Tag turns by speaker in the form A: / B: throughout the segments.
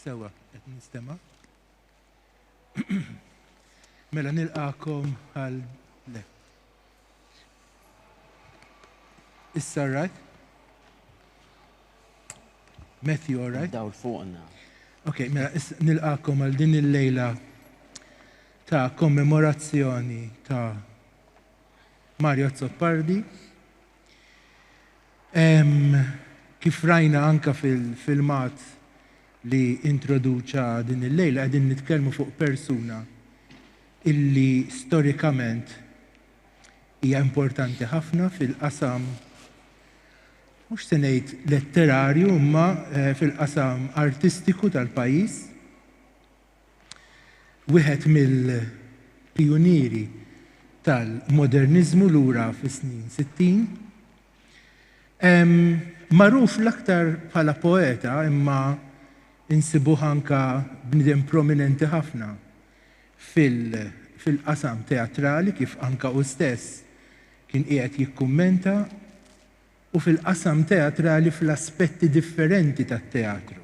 A: Sewa, qed nistema'. Mela nilqakom għal le. Issa right? Matthew, all right? Dawl fuqna.
B: Ok, mela
A: nilqakom għal din il-lejla ta' kommemorazzjoni ta' Mario Azzopardi. Kif rajna anka fil-filmat li introduċa din il-lejla, għedin nitkelmu fuq persuna illi storikament hija importanti ħafna fil-qasam mhux se ngħid letterarju imma eh, fil-qasam artistiku tal-pajjiż. Wieħed mill-pijunieri tal-moderniżmu lura fis-snin sittin. Magħruf l-aktar bħala poeta imma insibuh anke bniedem prominenti ħafna fil-qasam teatrali kif anke hu stess kien qiegħed jikkummenta u fil-qasam teatrali fl-aspetti differenti tat-teatru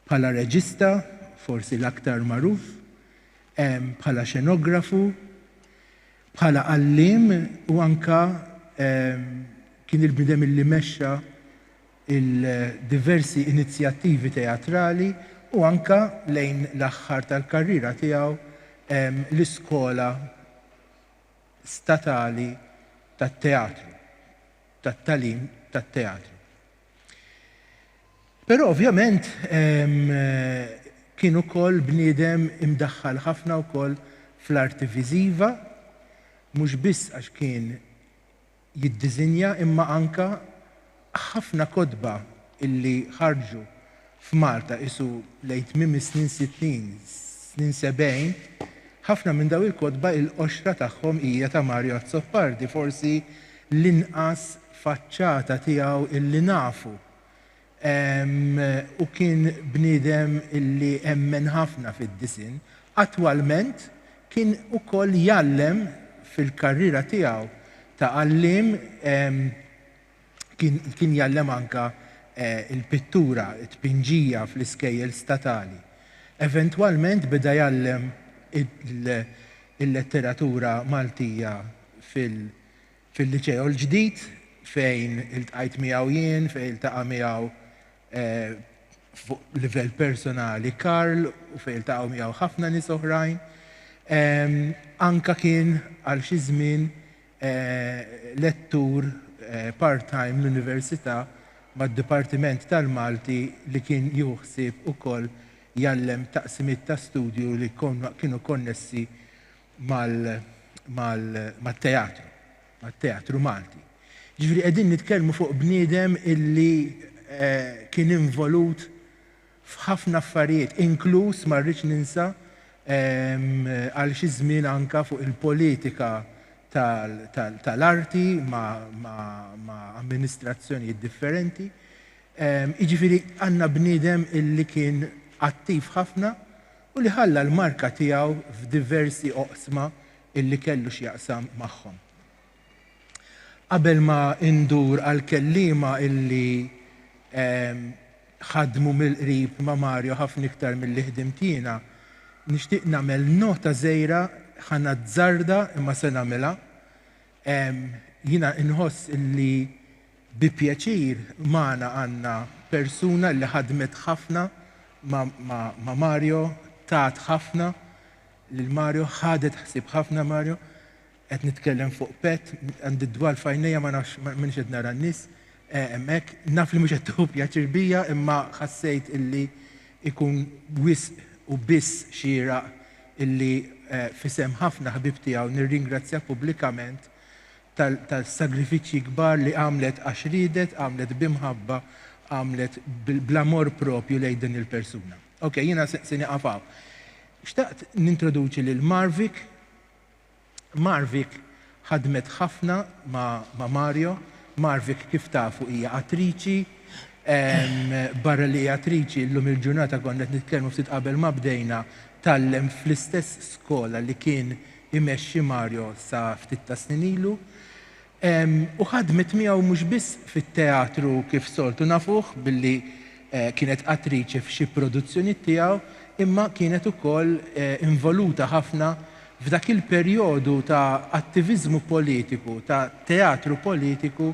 A: Bħala reġista, forsi l-aktar magħruf, bħala xenografu, bħala għalliem u anke kien il-bniedem li mexxa l-diversi inizjattivi teatrali u anke lejn l-aħħar tal-karriera tiegħu l-Iskola Statali tat-Teatru, tat-tagħlim tat-teatru. Però ovvjament kien ukoll bniedem imdaħħal ħafna wkoll fl-arti viżiva, mhux biss għax kien jiddiżinja imma anka ħafna kotba illi ħarġu f'Malta qisu lejn tmiem is-snin sittin, snin sebgħin, ħafna minn dawn il-kotba il-qoxra tagħhom hija ta' Mario Azzopardi, forsi l-inqas faċċata tiegħu illi nafu. Hu kien bniedem illi emmen ħafna fid-disinn. Attwalment kien ukoll jgħallem fil-karriera tiegħu ta' għalliem, kien kien jgħallem anke l-pittura, it-tpinġija fl-iskejjel statali. Eventwalment beda jgħallem il-letteratura Maltija fil-Liċeo l-Ġdid fejn iltqajt miegħu jien, fejn iltaqa' miegħu fuq livell personali Karl u fejn iltaqgħu miegħu ħafna nies oħrajn. Anke kien għal xi żmien lettur part-time l-Università mad-Dipartiment tal-Malti li kien jieħu ħsieb ukoll jgħallem taqsimiet ta' studju li kienu konnessi mat-teatru, mat-teatru Malti. Ġifieri qegħdin nitkellmu fuq bniedem illi kien involut f'ħafna affarijiet, inkluż ma rridx ninsa għal xi żmien anke fuq il-politika tal-arti ma' amministrazzjonijiet differenti. Jiġifieri għandna bniedem illi kien attiv ħafna u li ħalla l-marka tiegħu f'diversi oqsma illi kellu x'jaqsam magħhom. Qabel ma indur għall-kelliema illi ħadmu mill-qrib ma' Mario ħafna iktar milli ħdimt jiena, nixtieq nagħmel nota żgħira, ħa nazzarda imma se nagħmilha. Jiena inħoss illi bi pjaċir magħna għandna persuna illi ħadmet ħafna ma' Mario, tat ħafna lil Mario, ħadet ħsieb ħafna Mario. Qed nitkellem fuq pet, għandi d-dwal f'għajnejja ma nafx m'inhiex qed nara n-nies hemmhekk. Naf li mhux qed tieħu pjaċir bija imma ħassejt illi jkun wisq u biss xieraq illi f'isem ħafna ħbieb tiegħu nirringrazzjah pubblikament tas-sagrifiċċji kbar li għamlet għax riedet, għamlet b'imħabba, għamlet bl-amor propju lejn din il-persuna. Ok, jiena se nieqaf hawn. Xtaqt nintroduċi lil Marvik Marvik ħadmet ħafna ma' Mario. Marvik kif tafu hija attriċi. Barra li hija attriċi, illum il-ġurnata konna qed nitkellmu ftit qabel ma bdejna, tgħallem fl-istess skola li kien imexxi Mario sa ftit tas-snin ilu. U ħadmet miegħu mhux biss fit-teatru kif soltu nafuh billi kienet attriċi f'xi produzzjonijiet tiegħu, imma kienet ukoll involuta ħafna f'dak il-perjodu ta' attiviżmu politiku, ta' teatru politiku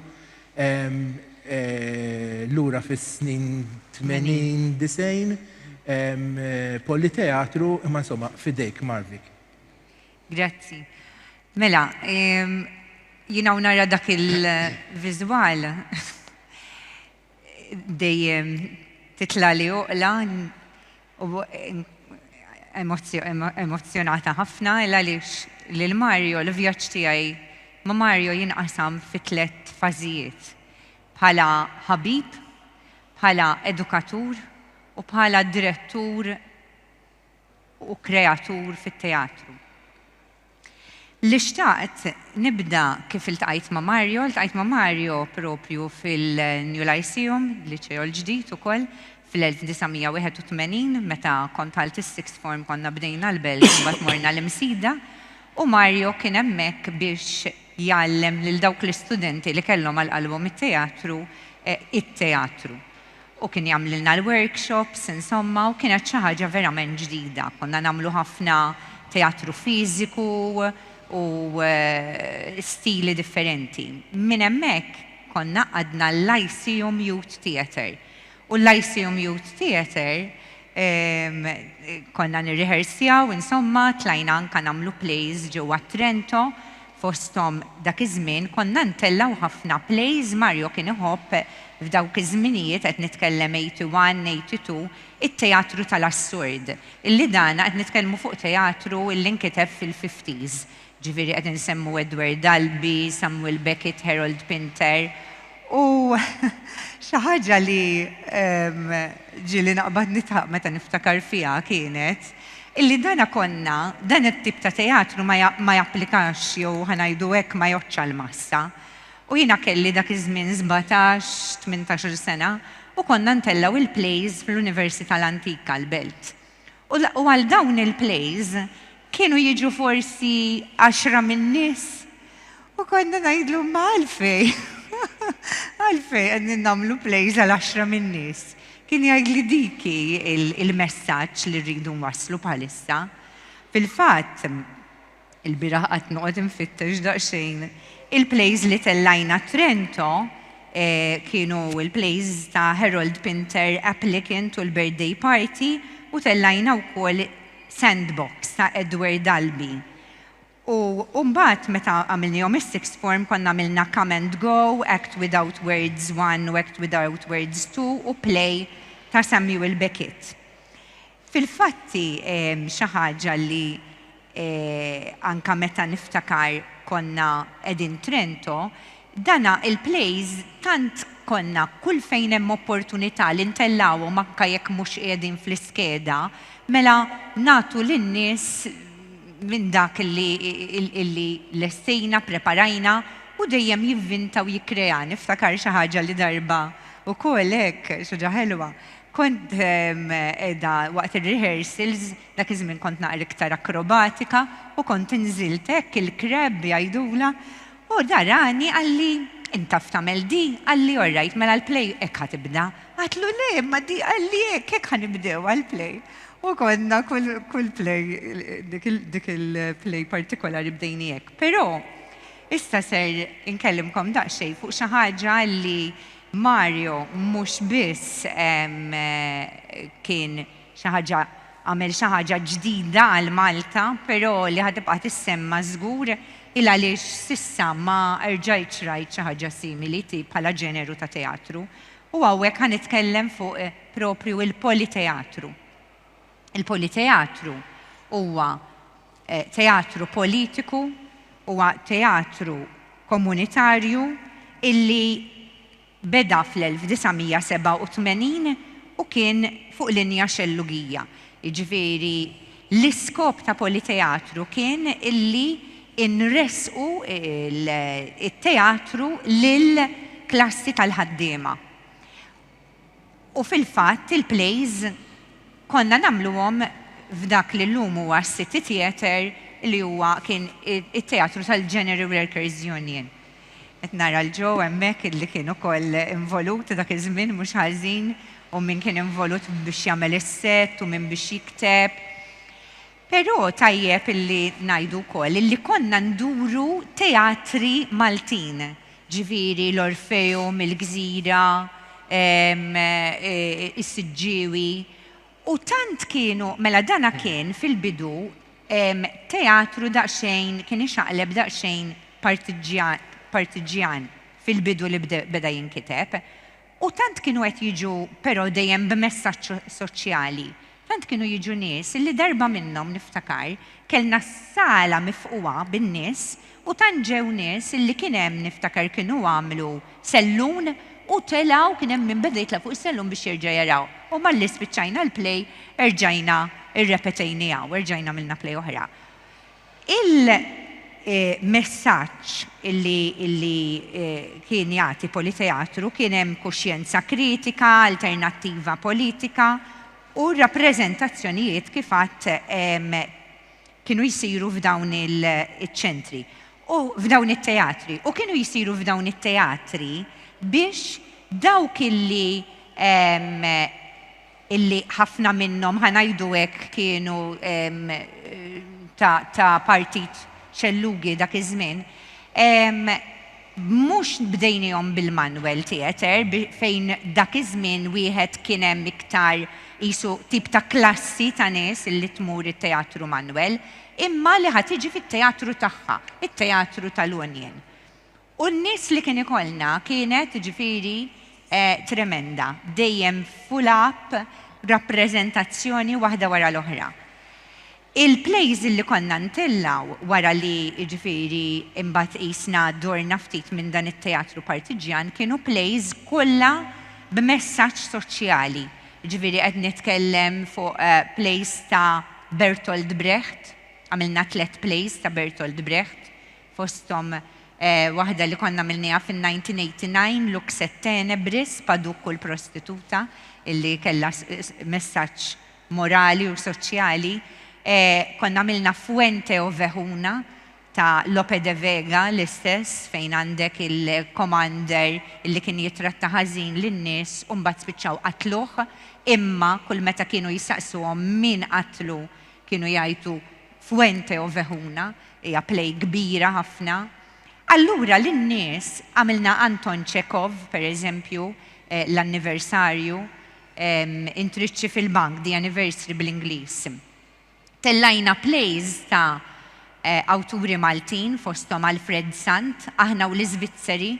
A: lura fis-snin tmenin, disgħin, Politeatru, imma insomma f'idejk Marvik. Grazzi.
C: Mela, jien hawn nara dak il-viżwal dejjem titla' li oqla u emozzjonata ħafna il għaliex lil Mario l-vjaġġ tiegħi ma' Mario jinqasam fi tliet fażijiet, bħala ħabib, bħala edukatur u bħala direttur u kreatur fit-teatru. Li xtaqt nibda kif iltqajt ma' Mario, ltqajt ma' Mario proprju fil-New Lyceum, Liċeo l-Ġdid ukoll, fl-1981 meta kont għalt is-sixth form konna bdejna l-Belt u mbagħad morna l-Imsida u Mario kien hemmhekk biex jgħallem lil dawk l-istudenti li kellhom għal qalbhom it-teatru, it-teatru. u kien jagħmlilna l-workshops, insomma, u kienet xi ħaġa verament ġdida. Konna nagħmlu ħafna teatru fiżiku u stili differenti. Minn hemmhekk konna qagħdna l-Lyceum Youth Theatre u l-Lyceum Youth Theatre konna nirriħersjaw, insomma, tlajna anke nagħmlu plays ġewwa Trento, Fosthom dak iż-żmien konna ntellgħu ħafna plays Mario kien iħobb, f'dawk iż-żminijiet qed nitkellem eighty one, eighty two, it-teatru tal-assurd, illi dana qed nitkellmu fuq teatru illi nkiteb fil-fifties, ġifieri qed insemmu Edward Albee, Samuel Beckett, Harold Pinter U xi ħaġa li ġieli naqbad nidħaq meta niftakar fiha kienet illi dana konna, dan it-tip ta' teatru ma japplikax jew ħa ngħidu hekk ma jgħoddx għall-massa. U jiena kelli dak iż-żmien sbatax, tmintax-il sena u konna ntellgħu l-plays fl-Università l-Antika, l-Belt. U għal dawn il-plays kienu jiġu forsi għaxra min-nies. U konna ngħidlu imma għalfejn? Għalfejn qegħdin nagħmlu plays għal għaxra min-nies? Kien jgħid li dik hi il-messaġġ li rridu nwasslu bħalissa. Fil-fatt, Il-bieraħ qgħadt noqgħod infittex daqsxejn il-plays li tellajna Trento kienu l-plays ta' Harold Pinter Applicant u l-Birthday Party u tellajna wkoll Sandbox ta' Edward Albee. U u mbagħad meta għamilnihom is-sixth form konna għamilna Come and Go, Act Without Words One u Act Without Words Two u Play ta' Samuel Beckett. Fil-fatt hi xi ħaġa li anke meta niftakar konna qegħdin Trento, dan il-plays tant konna kull fejn hemm opportunità li ntellgħuhom anke jekk mhux qiegħdin fl-iskeda, mela nagħtu lin-nies minn dak li lestejna, ppreparajna u dejjem jivvinta u jikkrea. Niftakar xi ħaġa li darba wkoll hekk, xi ħaġa ħelwa, Kont qiegħda waqt ir-rehearsals, dak iż-żmien kont naqra iktar akrobatika, u kont inżilt hekk il-crab jgħidulha, u da rani qalli, Int taf tagħmel di? Qalli, Orrajt, mela l-play hekk ħa tibda. Għadtlu, Le, imma di qalli hekk, hekk ħa nibdew għall-play. U konna kull play, dik il-play partikolari bdejni hekk. Però, issa ser inkellimkom daqsxejn fuq xi ħaġa li Mario mhux biss kien xi ħaġa għamel xi ħaġa ġdida għal Malta, però li ħa tibqa' tissemma żgur hi għaliex s'issa ma erġajtx rajt xi ħaġa simili ti bħala ġeneru ta' teatru. U hawnhekk ħa nitkellem fuq proprju il-Politeatru. Il-politeatru huwa eh, teatru politiku, huwa teatru komunitarju illi beda fl-1987 u kien fuq linja xellugija. Jiġifieri l-iskop ta' politeatru kien illi inresqu il-teatru lil klassi tal-ħaddiema. U fil-fatt il-plays konna nagħmluhom f'dak li llum huwa s-City Theatre li huwa kien it-teatru tal-General Workers Union. Qed nara 'l Joe hemmhekk li kien ukoll involut dak iż-żmien mhux ħażin u min kien involut biex jagħmel is-set u min biex jikteb. Però tajjeb illi ngħidu wkoll illi konna nduru teatri Maltin, ġifieri l-Orfeum, il-Gżira, is-Siġġiewi, u tant kienu, mela dan kien fil-bidu teatru daqsxejn, kien ixaqleb daqsxejn partiġġjan fil-bidu li beda jinkiteb. U tant kienu qed jiġu però dejjem b'messaġġ soċjali. Tant kienu jiġu nies li darba minnhom, niftakar, kellna s-sala mifqugħa bin-nies u tant ġew nies li kien hemm, niftakar kienu għamlu sellun u telgħu, kien hemm min beda jitlaq fuq is-sellun biex jerġa' jaraw. U malli spiċċajna l-play erġajna rrepetejniha u erġajna għamilna play oħra. Il-messaġġ li kien jagħti Politeatru kien hemm kuxjenza kritika, alternattiva politika u r-rappreżentazzjonijiet kif għadt kienu jsiru f'dawn iċ-ċentri u f'dawn it-teatri u kienu jsiru f'dawn it-teatri biex dawk li illi ħafna minnhom, ħa ngħidu hekk, kienu ta' partit xellugi dak iż-żmien, mhux bdejniehom bil-manwel theatre fejn dak iż-żmien wieħed kien hemm iktar qisu tip ta' klassi ta' nies illi tmur it-teatru manwel, imma li ħa tiġi fit-teatru tagħha, it-teatru tal-Union. U n-nies li kien ikollna kienet, jiġifieri, tremenda, dejjem full up, rappreżentazzjoni waħda wara l-oħra. Il-plays li konna ntellgħu wara li, jiġifieri, imbagħad qisna dorna ftit minn dan it-teatru partiġġjan kienu plays kollha b'messaġġ soċjali, jiġifieri qed nitkellem fuq plays ta' Bertolt Brecht, għamilna tliet plays ta' Bertolt Brecht, fosthom waħda li konna għamilnieha fin-1989, Lux et tenebris, Paduk u l-prostituta, li kellha messaġġ morali u soċjali. Konna għamilna Fuente Ovejuna ta' Lope de Vega l-istess fejn għandek il-commander li kien jittratta ħażin lin-nies u mbagħad spiċċaw qatluh imma kull meta kienu jistaqsuhom min qatlu kienu jgħidu Fuente Ovejuna. Hija play kbira ħafna. Allura lin-nies għamilna Anton Chekhov, per eżempju, l-anniversarju, intriċċi fil-bank, the anniversary bl-Ingliż. Tellajna plays ta' awturi Maltin fosthom Alfred Sant, aħna u l-Iżvizzeri.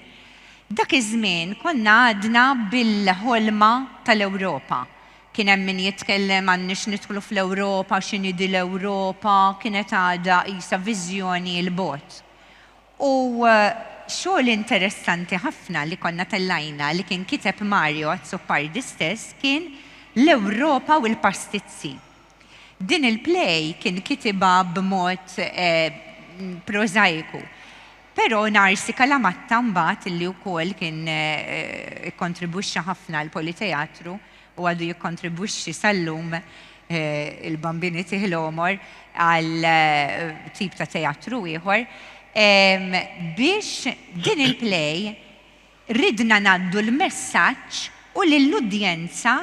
C: Dak iż-żmien konna għadna bil-ħolma tal-Ewropa. Kien hemm min jitkellem għandniex nidħlu fl-Ewropa, x'inhi din l-Ewropa, kienet għadha qisha viżjoni 'l bogħod. U xogħol interessanti ħafna li konna tellajna li kien kiteb Mario Azzopardi stess kien L-Ewropa u l-Pastizzi. Din il-play kien kitibha b'mod prożajiku. Però Narsi Kalamatta mbagħad li wkoll kien ikkontribwixxa ħafna għall-Politeatru, u għadu jikkontribwixxi sal-lum, il-Bambini Tih l-Għomor, għal tip ta' teatru ieħor, biex din il-play ridna ngħaddu l-messaġġ u lill-udjenza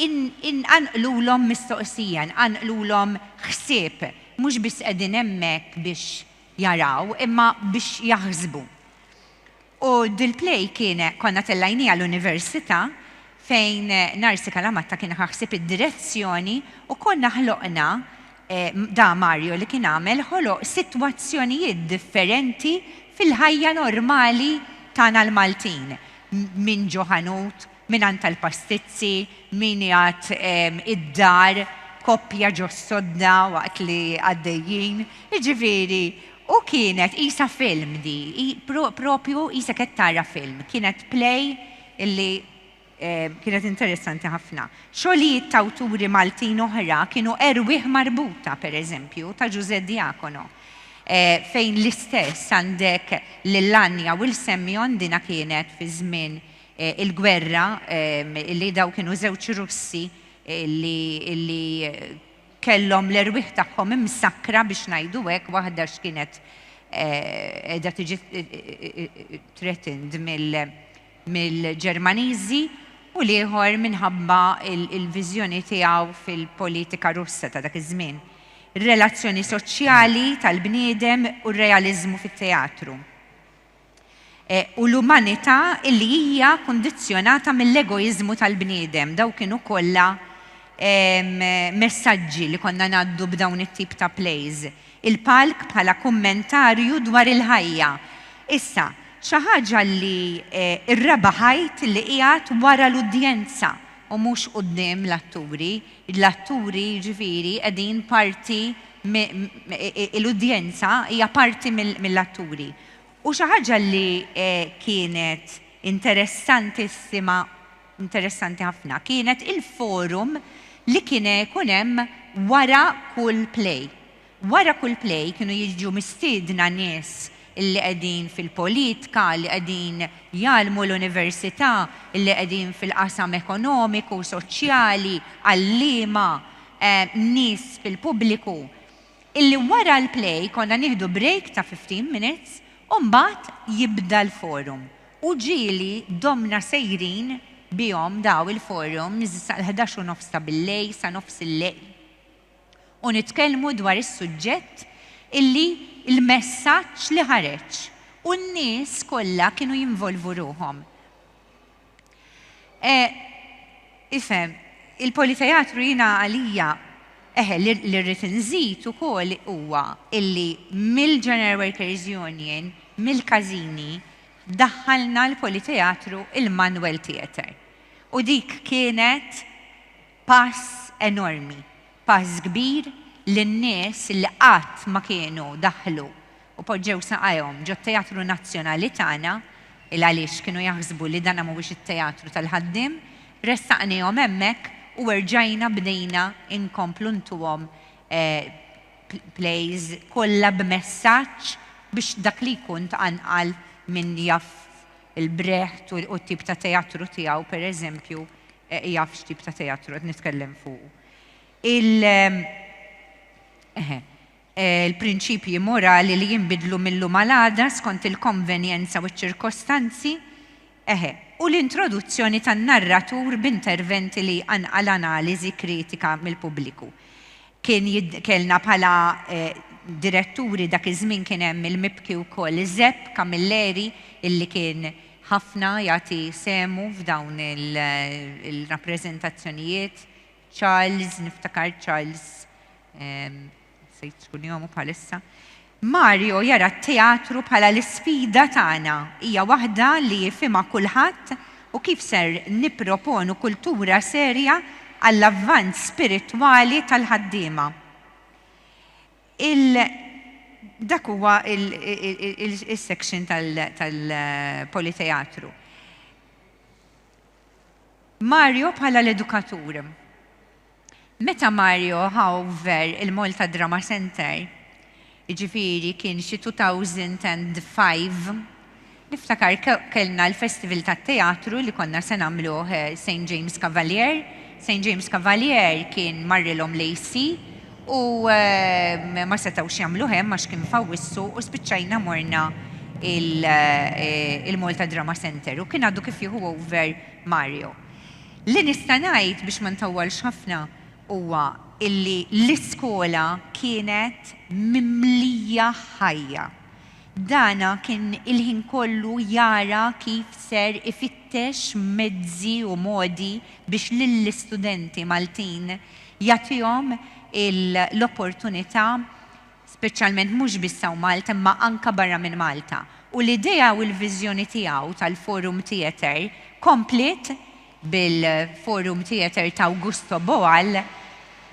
C: nqanqlulhom mistoqsija, nqanqlulhom ħsieb, mhux biss qegħdin hemmhekk biex jaraw, imma biex jaħsbu. U dil-play kien konna tellajniha l-Universita fejn Narsi Kalamatta kien ħa ħsieb id-direzzjoni u konna ħloqna da Mario li kien għamel ħoloq sitwazzjonijiet differenti fil-ħajja normali tagħna l-Maltin, minn ġo ħanut, Min għand tal-pastizzi, min jgħadd id-dar, koppja ġo s-sodda waqt li għaddejjin. Jiġifieri, u kienet qisha film di, propju qisek qed tara film. Kienet play li kienet interessanti ħafna. Xogħlijiet t'awturi Maltin oħra kienu Erwieħ Marbuta, per eżempju, ta' Ġużè Diacono, fejn l-istess għandek lil Anja u 'l Semjon, dina kienet fiż-żmien il-gwerra li dawk kienu żewġ Russi li kellhom l-erwieħ tagħhom imsakkra biex ngħidu hekk, waħda x'kienet qiegħda tiġi threatened mill-Ġermaniżi u l-ieħor minħabba l-viżjoni tiegħu fil-politika Russa ta' dak iż-żmien, ir-relazzjoni soċjali tal-bniedem u r-realiżmu fit-teatru. u l-umanità illi hija kundizzjonata mill-egoiżmu tal-bniedem. Dawn kienu kollha messaġġi li konna ngħaddu b'dawn it-tip ta' plays. Il-palk bħala kummentarju dwar il-ħajja. Issa, xi ħaġa li r-raba' ħajt li qiegħed wara l-udjenza u mhux quddiem l-atturi, l-atturi jiġifieri qegħdin parti, l-udjenza hija parti mill-atturi. U xi ħaġa li kienet interessantissima, interessanti ħafna, kienet il-forum li kien ikun hemm wara kull play. Wara kull play kienu jiġu mistiedna nies li qegħdin fil-politika, li qegħdin jgħallmu l-università, li qegħdin fil-qasam ekonomiku, soċjali, għalliema, nies fil-pubbliku. Illi wara l-play konna nieħdu break ta' 15 minutes u mbagħad jibda l-forum u ġieli domna sejrin bihom daw il-forums sal-ħdax u nofs ta' billejl sa nofs il-lejl u nitkellmu dwar is-suġġett illi l-messaġġ li ħareġ u n-nies kollha kienu jinvolvu ruħhom. E, ifhem, il-politeatru jiena għalija, eħe, li rrid inżid ukoll huwa illi mill-General Workers Union, mill-każini, daħħalna l-politeatru il-Manwel Theatre. U dik kienet Pass enormi, pass kbir li n-nies li qatt ma kienu daħlu u poġġew saqajhom ġot-Teatru Nazzjonali tagħna, 'il għaliex kienu jaħsbu li dan mhuwiex it-Teatru tal-Ħaddiem, ressaqniehom hemmhekk u erġajna bdejna nkomplu ntuhom plays kollha b'messaġġ biex dak li jkun tqanqal min jaf il-Brecht u t-tip ta' teatru tiegħu pereżempju Jaf x'tip ta' teatru qed nitkellem fuqu. Il. Eħe. Il-prinċipji morali li jinbidlu mil-lum għal għada skont il-konvenjenza u ċ-ċirkostanzi, eħe, u l-introduzzjoni tan-narratur b'interventi li jqanqal analiżi kritika mill-pubbliku. Kien kellna bħala diretturi dak iż-żmien kien hemm il-mibki wkoll Zepp Camilleri illi kien ħafna jagħti sehmu f'dawn il-rappreżentazzjonijiet, Charles, niftakar Charles, nsejt x'kunjomu bħalissa, Mario jara t-teatru bħala l-isfida tagħna, hija waħda li jifhimha kulħadd u kif ser nipproponu kultura serja għall-avvanz spiritwali tal-ħaddiema. Il Dak huwa is-section tal-Politeatru. Mario bħala l-edukatur. Meta Mario ħa over il-Malta Drama Centre, jiġifieri kien xi 2005, niftakar kellna l-festival tat-teatru li konna se nagħmluh Saint James Cavalier, Saint James Cavalier kien marrilhom l-AC u ma setgħux jagħmluh hemm għax kien f'Awwissu u spiċċajna morna il-Malta Drama Centre u kien għadu kif jieħu over Mario. Li nista' ngħid biex ma ntawwalx ħafna huwa illi l-iskola kienet mimlija ħajja. Dana kien il-ħin kollu jara kif ser ifittex mezzi u modi biex lill-istudenti Maltin jagħtihom l-opportunità speċjalment mhux biss hawn Malta imma anke barra minn Malta, u l-idea u l-viżjoni tiegħu tal-Forum Theatre kompliet bil-Forum Theatre ta' Augusto Boal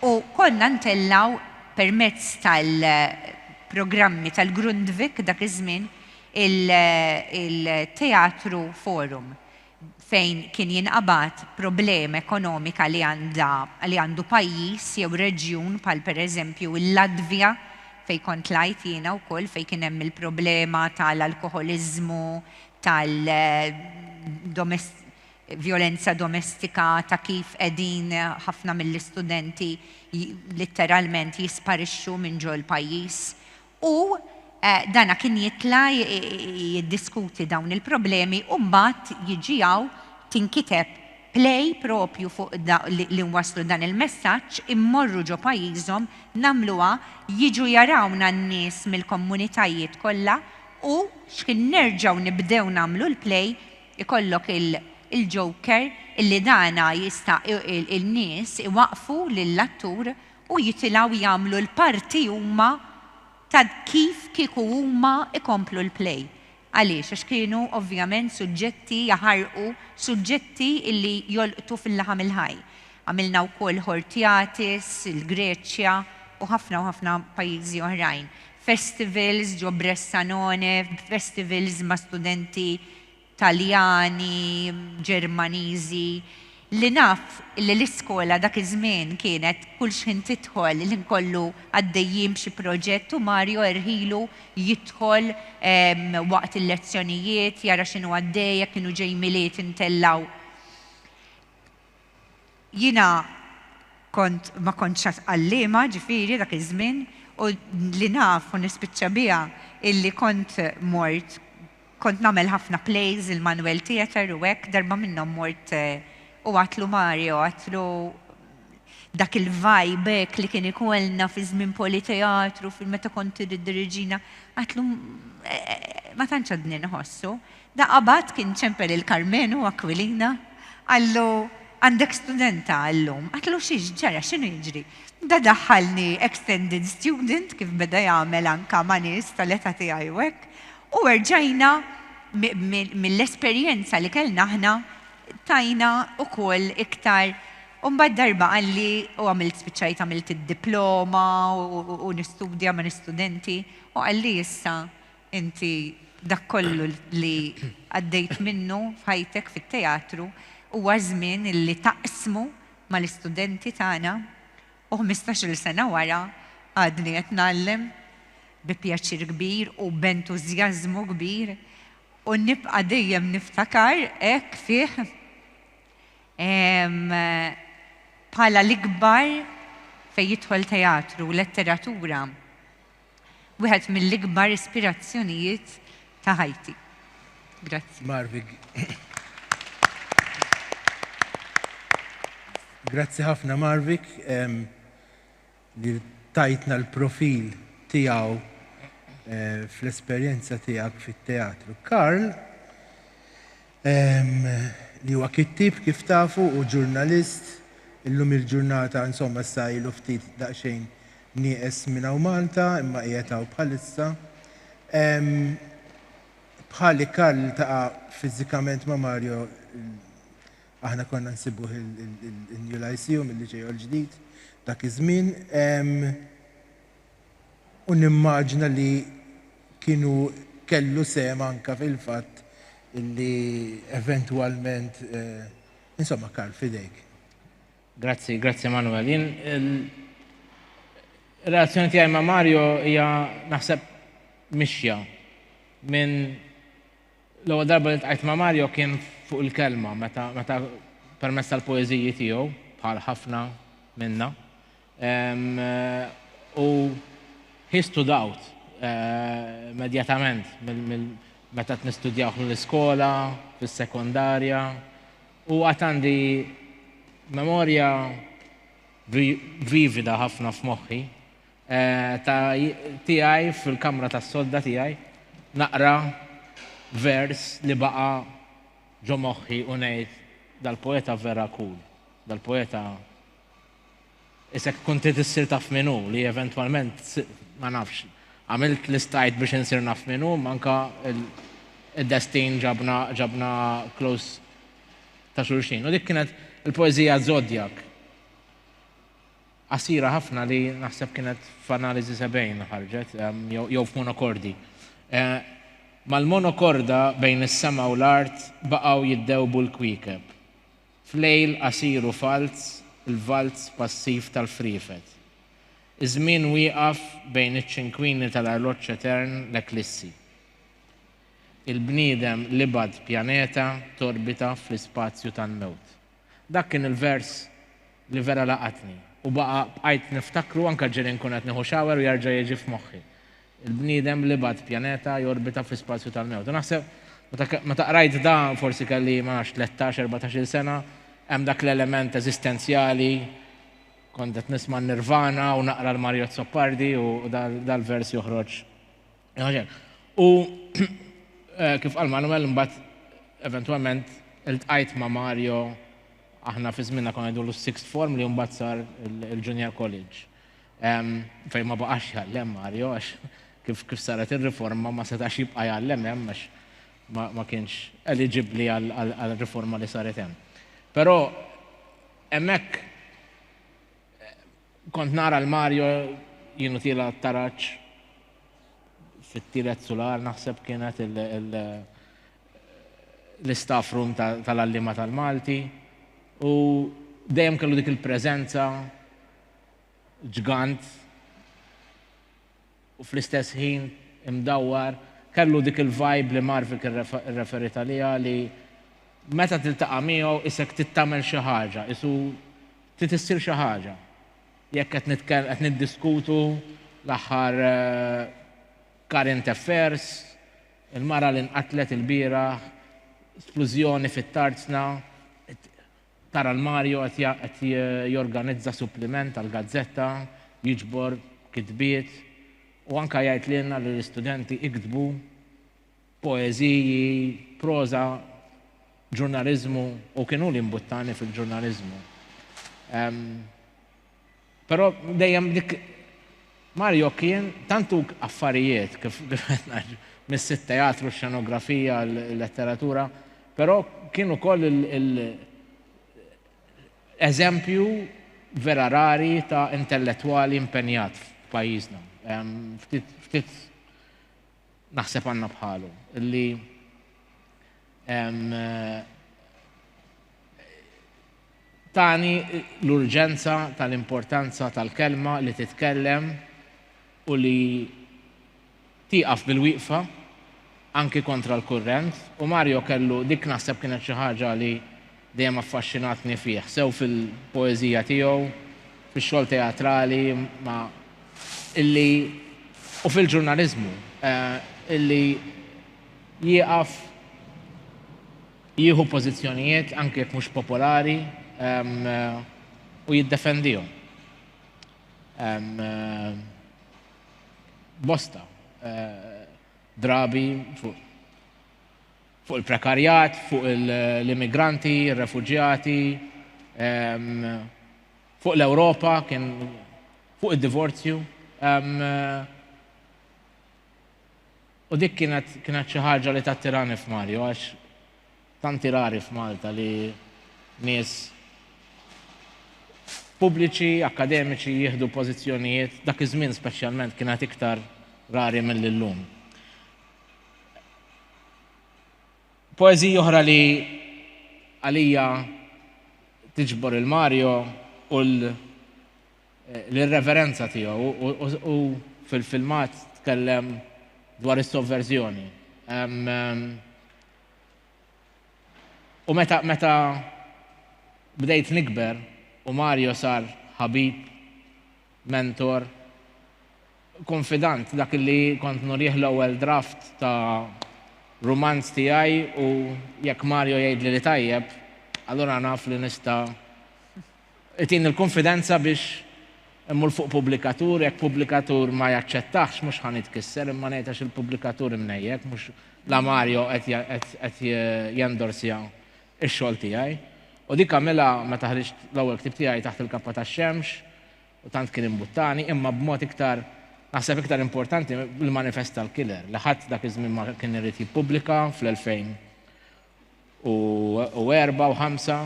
C: u konna ntellgħu permezz tal-programmi tal-Grundtvig dak iż-żmien il-Teatru Forum. fejn kien jinqabad problema ekonomika li għandha, li għandu pajjiż jew reġjun bħal pereżempju l-Latvja fejn kont tlajt jiena wkoll fejn kien hemm il-problema tal-alkoħoliżmu, tal, domest, vjolenza domestika, ta' kif qegħdin ħafna mill-istudenti litteralment jisparixxu minn ġol-pajjiż U dan kien jitla' jiddiskuti dawn il-problemi u mbagħad jiġi hawn tinkiteb play proprju fuq li nwasslu dan il-messaġġ, immorru ġo pajjiżhom, nagħmluha, jiġu jarawna n-nies mill-komunitajiet kollha u xħin nerġgħu nibdew nagħmlu l-play ikollok il-joker illi dana jista' in-nies iwaqqfu lill-attur u jitilgħu jagħmlu l-parti huma ta' kif kieku huma jkomplu l-play. Għaliex? Għax kienu ovvjament suġġetti jaħarqu, suġġetti li jolqtu fil-laħam il-ħaj. Għamilna wkoll Hortiatis, il-Greċja u ħafna u ħafna pajjiżi oħrajn. Festivals ġo Bressanone, festivals ma' studenti Taljani, Ġermaniżi, li naf li l-iskola dak iż-żmien kienet kull xħin tidħol l-ħin kollu għaddejjin b'xi proġett u Mario erħilu jidħol waqt il-lezzjonijiet jara x'inhu għaddej jekk kienu ġej Milied intellgħu Jiena kont ma kontx għad għalliema, ġifieri, dak iż-żmien, u li naf u nispiċċa biha hi li kont mort, kont nagħmel ħafna plays il-Manuel Theatre u hekk, darba minnhom mort u għadtlu Mario, għadtlu dak il-vibe hekk li kien ikollna fi żmien Politeatru, meta kont trid iddiriġina, għadtlu ma tantx għadni nħossu, Da qabad kien ċempel il Karmenu u Akwilina, qallu, Għandek studenta llum. Qatlu, Xiex ġara, x'inhu jiġri? Da daħħalni extended student kif beda jagħmel anka ma' nies tal-età tiegħi u hekk, u erġajna mill-esperjenza li kellna aħna tajna ukoll iktar u mbagħad darba qalli, u għamilt spiċċajt għamilt id-diploma u nistudja ma' l-istudenti, u qalli issa Inti dak kollu li għaddejt minnu f'ħajtek fit-teatru huwa żmien li taqsmu mal-istudenti tagħna u ħmistax-il sena wara għadni qed ngħallem bi pjaċir kbir u b'entużjażmu kbir u nibqa' dejjem niftakar hekk fih bħala l-ikbar fejn jidħol teatru u letteratura. Wieħed mill-ikbar ispirazzjonijiet ta' ħajti. Grazzi. Marvig.
A: Grazzi ħafna Marvik li tajtna l-profil tiegħu eh, fl-esperjenza tiegħek fit-teatru. Karl, li huwa kittieb kif tafu u ġurnalist, illum il-ġurnata insomma issa ilu ftit daqsxejn nieqes minn hawn Malta imma qiegħed hawn bħalissa. Bħali Karl iltaqa' fiżikament ma' Mario aħna konna nsibuh in-New Lyceum il-Liċej Għoll Ġdid dak iż-żmien. u nimmaġina li kien hu kellu sehem anke fil-fatt li eventwalment insomma Karl f'idejk. Grazzi,
B: grazzi Manwel. Jien ir-relazzjoni tiegħi ma' Mario hija naħseb mixja minn l-ewwel darba li ltqajt ma' Mario kien fuq il-kelma meta meta permezz tal-poeżiji tiegħu bħal ħafna minna U he stood out immedjatament meta qed nistudjawh mill-iskola, fis-sekondarja u għad għandi memorja vivida ħafna f'moħħi ta' tiegħi fil-kamra tas-sodda tiegħi naqra vers li baqa' ġo moħħi u ngħid, Dal-poeta vera cool, dal-poeta Isek tkun trid issir taf min hu li eventwalment ma nafx għamilt li stajt biex insir naf min hu manka id-destin ġabna ġabna close ta' xulxin. U dik kienet il-poeżija Zodiac. Qasira ħafna li naħseb kienet f'analiżi sebgħin ħarġet jew f'monokordi. Eh, Mal-monokorda bejn is-sema u l-art baqgħu jiddewbu l-kwiekeb. F'lejl qasir u falz, il-valz passiv tal-friefet. Iż-żmien wieqaf bejn iċ-ċinkwini tal-arloġġ etern l-eklissi. Il-bniedem l-ibgħad pjaneta torbita fl-ispazju tal-mewt. Dak kien il-vers li vera laqatni u baqa' bqajt niftakru anke ġieli nkun qed nieħu shower u jerġa' jiġi f'moħħi. Il-bniedem li bagħat pjaneta jorbita fl-ispazju tal-mewt. U naħseb, meta qrajt dan, forsi kelli, ma nafx, tlettax, erbatax-il sena, hemm dak l-element eżistenzjali, kont qed nisma' n-Nirvana u naqra l-Mario Azzopardi u dal-vers joħroġ. U kif qal Manuel, imbagħad eventwalment iltqajt ma' Mario, aħna fi żmienna konna ngħidulu s-sixth form li imbagħad sar il-junior college. Fejn ma baqax jgħallem Mario għax kif kif saret ir-riforma ma setax jibqa' jgħallem hemm għax ma kienx eliġibbli għall-riforma li saret hemm. Però hemmhekk kont nara l-Mario jienu tiela taraġ fit-tielet sular naħseb kienet l-istaff room tal-għalliema tal-Malti u dejjem kellu dik il-preżenza ġgant u fl-istess ħin imdawwar, kellu dik il-vibe li Marvik irreferiet għaliha li meta tiltaqa' miegħu qisek trid tagħmel xi ħaġa, qisu trid issir xi ħaġa. Jekk qed nitkell qed niddiskutu l-aħħar current affairs, il-mara li nqatlet ilbieraħ, splużjoni fit-Tarzna, Tara 'l Mario qed qed jorganizza suppliment għall-gazzetta, jiġbor kitbiet u anke jgħid lilna li l-istudenti iktbu poeżiji, proża, ġurnaliżmu u kien hu li mbuttani fil-ġurnaliżmu. Però dejjem dik Mario kien tantu affarijiet kif mis-sit teatru, xenografija, letteratura, però kien ukoll eżempju vera rari ta' intellettwali impenjat f'pajjiżna. Ftit naħseb għandna bħalu li Tani l-urġenza tal-importanza tal-kelma li titkellem u li tieqaf bil-wieqfa anki kontra l-kurrent u Mario kellu dik naħseb kienet xi ħaġa li dejjem affaxxinatni fih, sew fil-poeżija tiegħu, fix-xogħol teatrali ma illi u fil-ġurnaliżmu, illi jieqaf. Jieħu pożizzjonijiet, anki jekk mhux popolari, u jiddefendihom. Bosta drabi fuq fuq il-prekarjat, fuq l-immigranti, il-refugjati, fuq l-Ewropa, kien fuq id-divorzju. U dik kienet kienet xi ħaġa li tattirani f'Mario għax tanti rari f'Malta li nies pubbliċi, akkademiċi jieħdu pożizzjonijiet, dak iż-żmien speċjalment kienet iktar rari milli llum. Poeżiji oħra li għalija tiġbor il-Mario u l- l-irreverenza tiegħu u fil-filmat tkellem dwar is-sovverżjoni. U meta meta bdejt nikber u Mario sar ħabib, mentor, kunfidant dak li kont nurih l-ewwel draft ta' rumanz tiegħi u jekk Mario jgħidli li tajjeb, allura naf li nista' Itini l-kunfidenza biex immur fuq pubblikatur, jekk pubblikatur ma jaċċettahx mhux ħa nitkisser imma ngħid għax il-pubblikatur imnejjek mhux la Mario qed jendorsja x-xogħol tiegħi. U dik għamilha meta ħriġt l-ewwel ktieb tiegħi Taħt il-Kappa tax-Xemx u tant kien imbuttani, imma b'mod iktar, naħseb iktar importanti, il-Manifest tal-Killer li ħadd dak iż-żmien ma kien irid jippubblika fl-2000. u erba' u ħamsa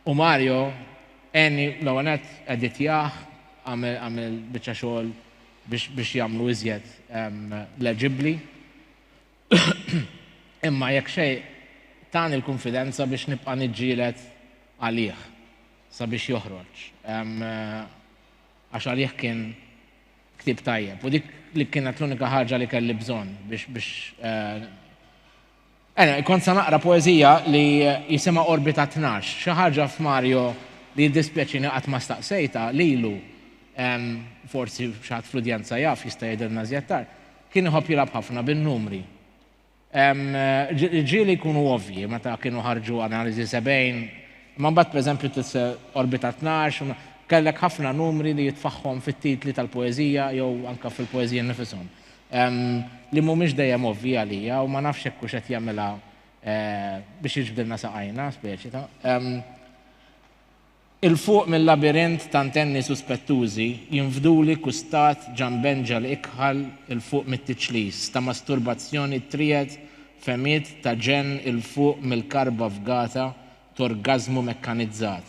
B: u Mario għenni l-ewwel nett editjah għamel biċċa xogħol biex jagħmlu iżjed leġibbli imma jekk xejn tani l-kunfidenza biex nibqa' niġġieled għalih sabiex joħroġ għax għalih kien ktieb tajjeb u dik li kienet l-unika ħaġa li kelli bżonn biex biex Ena, kont sa naqra poeżija li jisimha Orbita 12, xi ħaġa f'Mario li jiddispjaċini qatt ma staqsejta lilu forsi xaħat fl-udjenza jaf jista' jidher nażjettar, kien iħobb jilgħab ħafna bin-numri. Ġieli jkunu ovvji meta kienu ħarġu analiżi 70, imma mbagħad pereżempju tise' Orbita Tnax, kellek ħafna numri li jitfaħħom fit-titli tal-poeżija jew anke fil-poeżiji nnifishom, li mhumiex dejjem ovvji għalija u ma nafx jekk hux qed jagħmilha biex jiġbdilna saqajna, speċi ta'. 'il fuq mil-labirint ta' ntenni suspettużi jinfduli kustat ġanb enġel ikħal 'il fuq mit-tiċlis ta' masturbazzjoni triegħed fehmiet ta' ġenn 'il fuq mill-karba fgata t'orgażmu mekkanizzat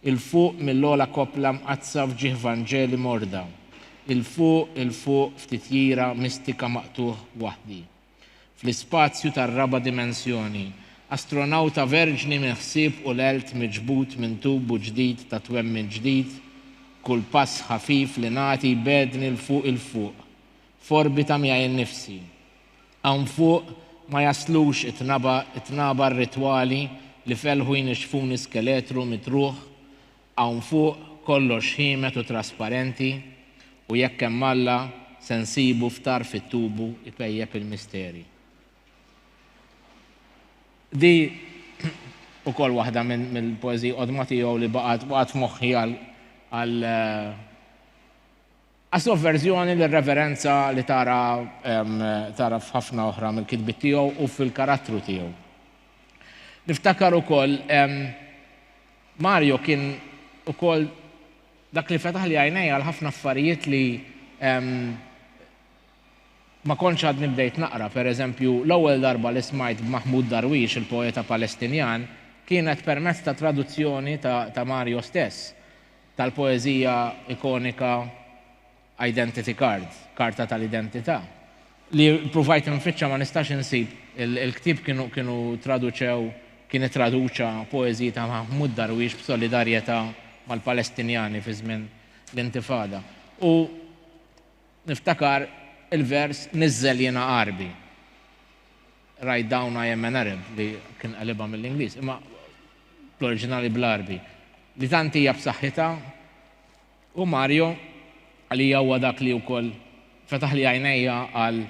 B: 'il fuq mill-ogħla koppla mqaddsa f'ġieħ vanġeli morda 'il fuq 'il fuq f'titjira mistika maqtugħ waħdi. fl-ispazju tar-raba' dimensjoni, astronawta verġni minn ħsieb u l-għelt miġbud minn tubu ġdid ta' twemmin ġdid, kull pass ħafif li nagħti jbegħdni 'l fuq 'il fuq, f'orbita miegħi nnifsi. Hawn fuq ma jaslux it-tnaba, it-tnaba rritwali li f'elħu jnixxfuni skeletru mitruħ Hawn fuq kollox ħiemet u trasparenti u jekk hemm Alla se nsibu f'tarf it-tubu jpejjep il-misteri. Di ukoll waħda mill-poeżiji qodma tiegħu li baqgħet f'moħħi għal Għas-sovverżjoni lir-reverenza li tara tara f'ħafna oħra mill-kitbiet tiegħu u fil-karattru tiegħu. Niftakar ukoll Mario kien ukoll dak li fetaħli għajnejja għal ħafna affarijiet li ma kontx għadni bdejt naqra. Pereżempju, l-ewwel darba li smajt b'Mahmoud Darwish, il-poeta Palestinjan, kienet permezz ta' traduzzjoni ta' Mario stess. tal-poeżija ikonika Identity Card, Karta tal-Identità, li ppruvajt infittxa ma nistax insib il-ktieb kienu traduċew kien ittraduċa poeżiji ta' Mahmud Darwish b'solidarjetà mal-Palestinjani fi żmien l-Intifada. U niftakar il-vers Niżżel jiena Għarbi, Write down I am an Arab li kien qelibha mill-Ingliż. Imma bl-oriġinali bl-Għarbi, li tant hija b'saħħitha u Mario għalija huwa dak li wkoll fetaħli għajnejja għal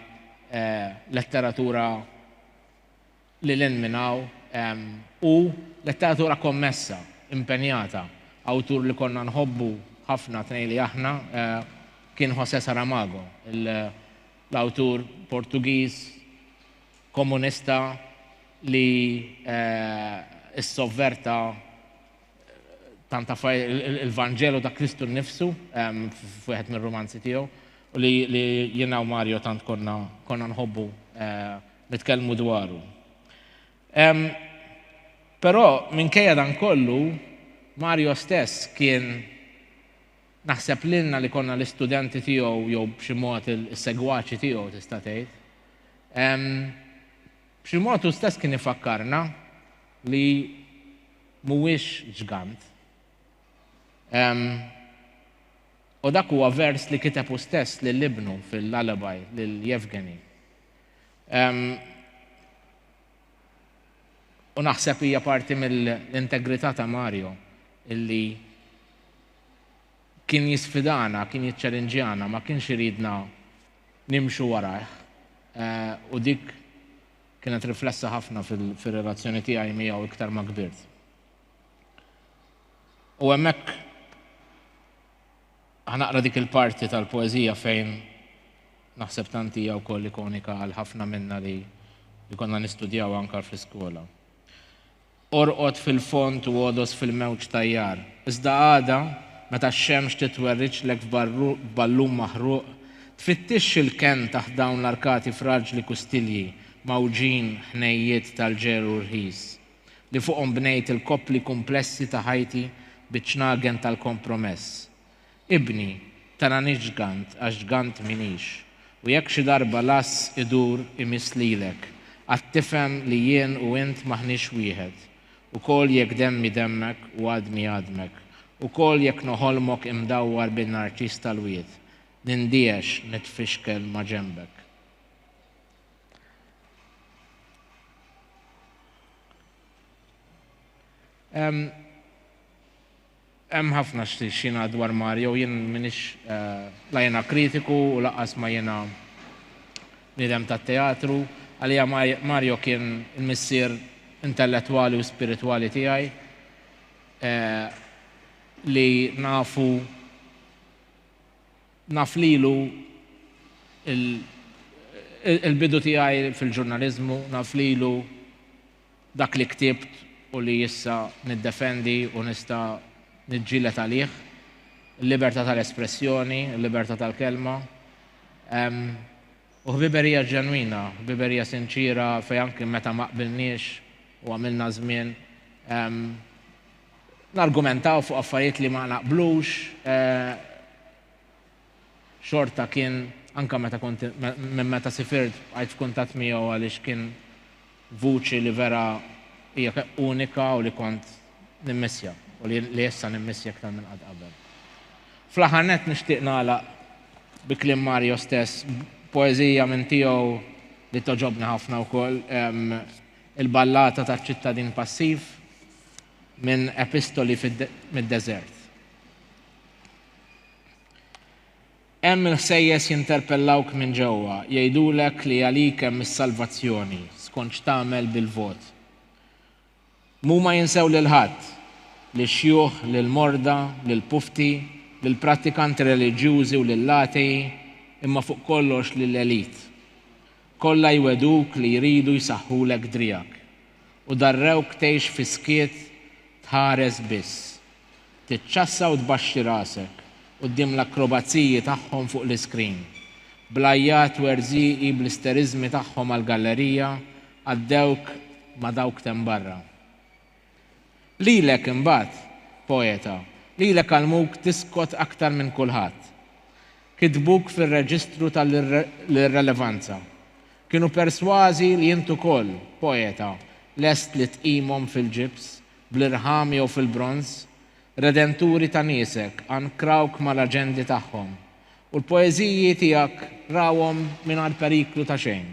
B: letteratura lil hinn minn hawn u letteratura kommessa, impenjata. Awtur li konna nħobbu ħafna tnejli aħna kien José Saramago, l-awtur Portugiż, Komunista li ssovverta tant affarijiet, il-Vanġelu ta' Kristu nnifsu f'wieħed mir-rumanzi tiegħu u li jiena u Mario tant konna nħobbu nitkellmu dwaru. Però minkejja dan kollu Mario stess kien Naħseb lilna li konna l-istudenti tiegħu jew b'xi mod is-segwaċi tiegħu tista' tgħid. B'xi mod hu stess kien ifakkarna li mhuwiex ġgant. U dak huwa vers li kiteb hu stess lil ibnu fil-lullaby lil Yevgeny. U naħseb hija parti mill-integrità ta' Mario illi Kien jisfidana, kien jiċċalinġjana, ma kienx iridna nimxu warajh. U dik kienet riflessa ħafna fir-relazzjoni tiegħi miegħu iktar ma kbirt. U hemmhekk ħanaqra dik il-parti tal-poeżija fejn naħseb tant hija wkoll ikonika għal ħafna minna li konna nistudjaw anke fl-iskola. Orqod fil-fond u għodos fil-mewġ tajjar. Iżda għada, meta x-xemx titwerriġlek f'ballun maħruq, tfittixx il-kenn taħt dawn l-arkati fraġli kustilji mgħawġin ħnejjiet tal-ġer u rħis, li fuqhom bnejt il-koppli kumplessi ta' ħajti biċ-ċnagen tal-kompromess, Ibni, tarani ġgant għax ġgant m'iniex, u jekk xi darba l-għass idur imiss lilek, għad tifhem li jien u int m'aħniex wieħed, ukoll jekk demmi demmek u għadmi għadmek, ukoll jekk noħolmok imdawwar bin-narċiż tal-wied, nindiehex nitfixkel ma' ġenbek. Ehm. Hemm ħafna x'jingħad dwar Mario, jien m'iniex la jiena kritiku u lanqas ma jiena bniedem tat-teatru. Għalija Mario kien il-missier intellettwali u spiritwali tiegħi li nafu naf lilu il-bidu tiegħi fil-ġurnaliżmu, naf lilu. Dak li ktibt u li issa niddefendi u nista' niġġieled għalih, il-libertà tal-espressjoni, il-libertà tal-kelma. U ħbiberija ġenwina, ħbiberija sinċiera fejn anki meta ma qbilniex u għamilna żmien nargumentaw fuq affarijiet li ma naqblux, xorta kien anke meta kont minn meta sifirt bqajt f'kuntatt miegħu għaliex kien vuċi li vera hija unika u li kont nimmissja u li issa nimmissja iktar minn qatt qabel. Fl-aħħar nett nixtieq nagħlaq bi kliem Mario stess b'poeżija minn tiegħu li togħġobni ħafna wkoll, Il-Ballata taċ-Ċittadin Passiv minn Epistoli mid-Deżert. Hemm il-ħsejjes jinterpellawk minn ġewwa, jgħidulek li għalik hemm is-salvazzjoni, skont x'tagħmel bil-vot. M'huma jinsew lil ħadd, lix-xjuħ, lill-morda, lill-pufti, lill-prattikanti reliġjużi u lill-atei, imma fuq kollox lill-elite. Kollha jwegħduk li jridu jsaħħulek driegħek. U darrewk tgħix fis-skiet, tħares biss. tiċċassa u tbaxxi rasek quddiem l-akkrobaziji tagħhom fuq l-iskrin. Bl-għajjat werżieqi bl-isteriżmi tagħhom għall-gallerija għaddewk ma' dawk t'hemm barra. Lilek imbagħad, poeta, lilek għallmuk tiskot aktar minn kulħadd. Kitbuk fir-reġistru ta' l-irrelevanza. Kienu persważi li int ukoll, poeta, lest li tqimhom fil-ġibs bl-irħam jew fil-bronż, redenturi ta' niesek ankrawk mal-aġendi tagħhom, u l-poeżiji tiegħek rawhom mingħajr periklu ta' xejn.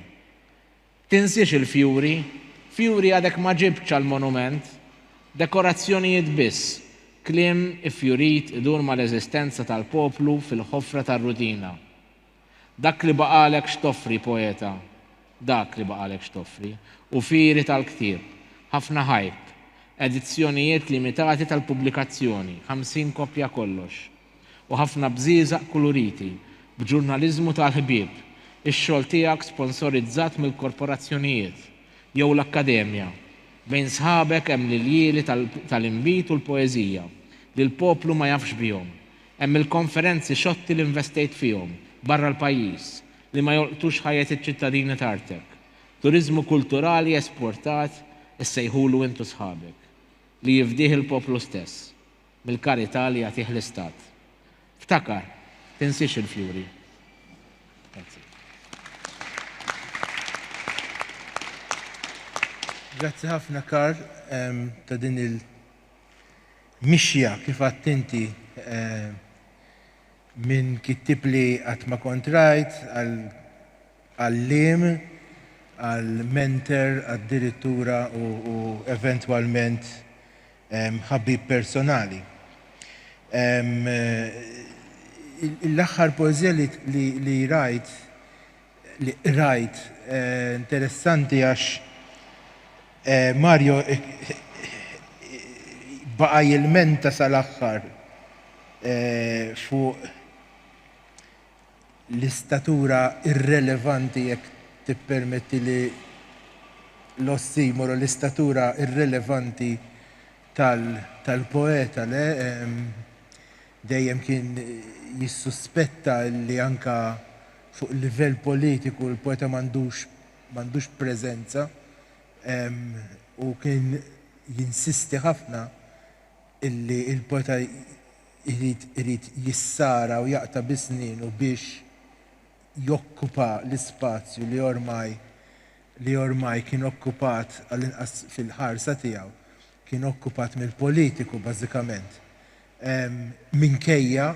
B: Tinsiex il-fjuri, fjuri għadek ma ġibtx għall-monument, dekorazzjonijiet biss, kliem iffjurit idur mal-eżistenza tal-poplu fil-ħofra tar-rutina. Dak li baqgħalek x'toffri, poeta, dak li baqgħalek x'toffri, u fieri tal-ktieb, ħafna ħajt, edizzjonijiet limitati tal-pubblikazzjoni, ħamsin koppja kollox, u ħafna bżieżaq kuluriti, b'ġurnaliżmu tal-ħbieb, ix-xogħol tiegħek sponsorizzat mill-korporazzjonijiet, jew l-akkademja, bejn sħabek hemm l-iljieli tal-inbid u l-poeżija, li l-poplu ma jafx bihom, Hemm il-konferenzi xotti li investejt fihom, barra l-pajjiż, li ma jolqtux ħajjet iċ-ċittadini t'artek. Turiżmu kulturali esportat, issejħulu int u sħabek, li jifdih il-poplu stess, mill-karità li jagħtih l-Istat. Ftakar, tinsiex il-fjuri. Grazzi.
A: Grazzi ħafna Karl ta' din il mixja kif għadt inti minn kittieb li qatt ma kont rajt, għal għalliem, għal mentor, addirittura u eventwalment ħabib personali. L-aħħar poeżija li rajt li qrajt interessanti għax Mario baqa' jilmenta sal-aħħar fuq l-istatura irrelevanti jekk tippermettili l-ossimoro, l-istatura irrelevanti tal-poeta le, dejjem kien jissuspetta li anke fuq livell politiku l-poeta m'għandux preżenza u kien jinsisti ħafna li l-poeta jrid jissara u jaqta' bi snienu biex jokkupa l-ispazju li ormai li ormai kien okkupat, għall-inqas fil-ħarsa tiegħu, kien okkupat mill-politiku bażikament. Minkejja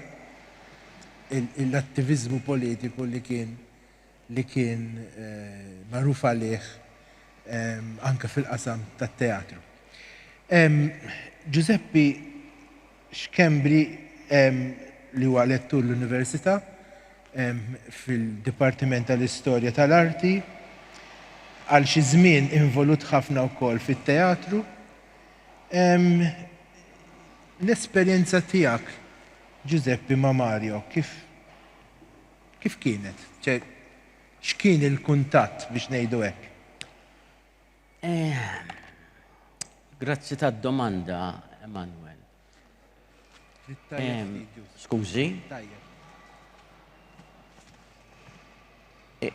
A: l-attiviżmu politiku li kien li kien magħruf għalih anke fil-qasam tat-teatru. Ġużeppi Schembri li huwa lettur l-Università fil-Dipartiment tal-Istorja tal-Arti, għal xi żmien involut ħafna wkoll fit-teatru. L-esperjenza tiegħek, Ġużeppi, ma' Mario kif kif kienet? X'kien il-kuntatt biex ngħidu hekk?
D: Grazzi tad-domanda, Emmanuel. Skużi.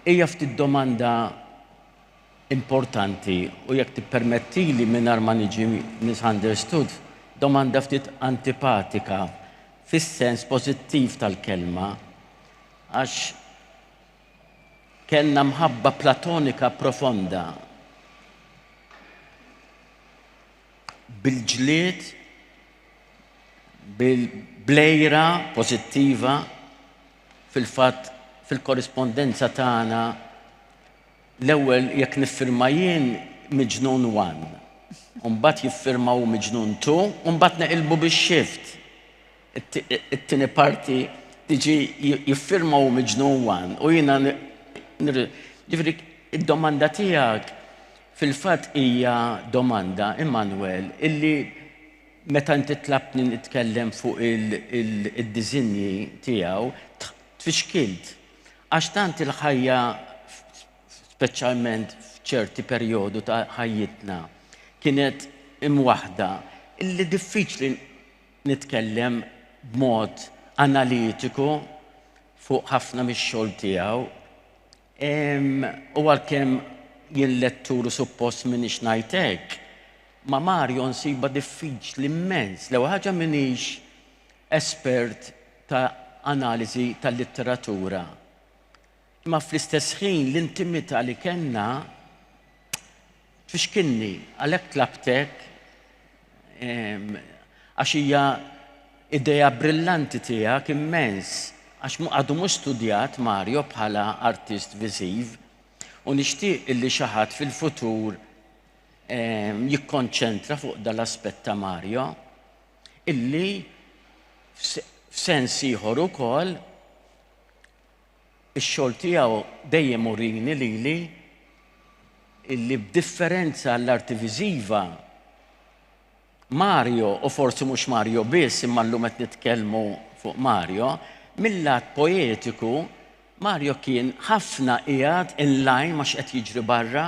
D: Hija ftit domanda importanti u jekk tippermettili mingħajr ma niġi misunderstood, domanda ftit antipatika fis-sens pożittiv tal-kelma għax Kellna mħabba platonika profonda. Bil-ġlied, bil-blejra pożittiva, fil-fatt fil-korrispondenza tagħna l-ewwel jekk niffirma jien Miġnun 1, u mbagħad jiffirma hu Miġnun 2, u mbagħad neqilbu bix-xift. it-tieni parti tiġi jiffirma u miġnun wan u jiena ġifri id-domanda tiegħek fil-fatt hija domanda Immanuel illi meta inti tlabtni nitkellem fuq il-diżinji tiegħu tfixkilt għax tant il-ħajja speċjalment f'ċerti perjodu ta' ħajjitna kienet imwaħda illi diffiċli nitkellem b'mod analitiku fuq ħafna mix-xogħol tiegħu. U għalkemm jien lettur u suppost minix ngħid hekk, ma' Mario nsibha diffiċli mmens. L-ewwel ħaġa minix espert ta' analiżi tal-litteratura. Imma fl-istess ħin l-intimità li kellna Tfixkilni, għalhekk tlabtek, għax hija idea brillanti tiegħek immens, għax għadu mhux studjat Mario bħala artist viżiv u nixtieq illi xi ħadd fil-futur jikkonċentra fuq dan l-aspett ta' Mario illi f'sens ieħor ukoll Ix-xogħol tiegħu dejjem urini lili illi b'differenza għall-arti viżiva, Mario, u forsi mhux Mario biss imma llum qed nitkellmu fuq Mario, mil-lat poetiku, Mario kien ħafna qiegħed in line ma' x'qed jiġri barra.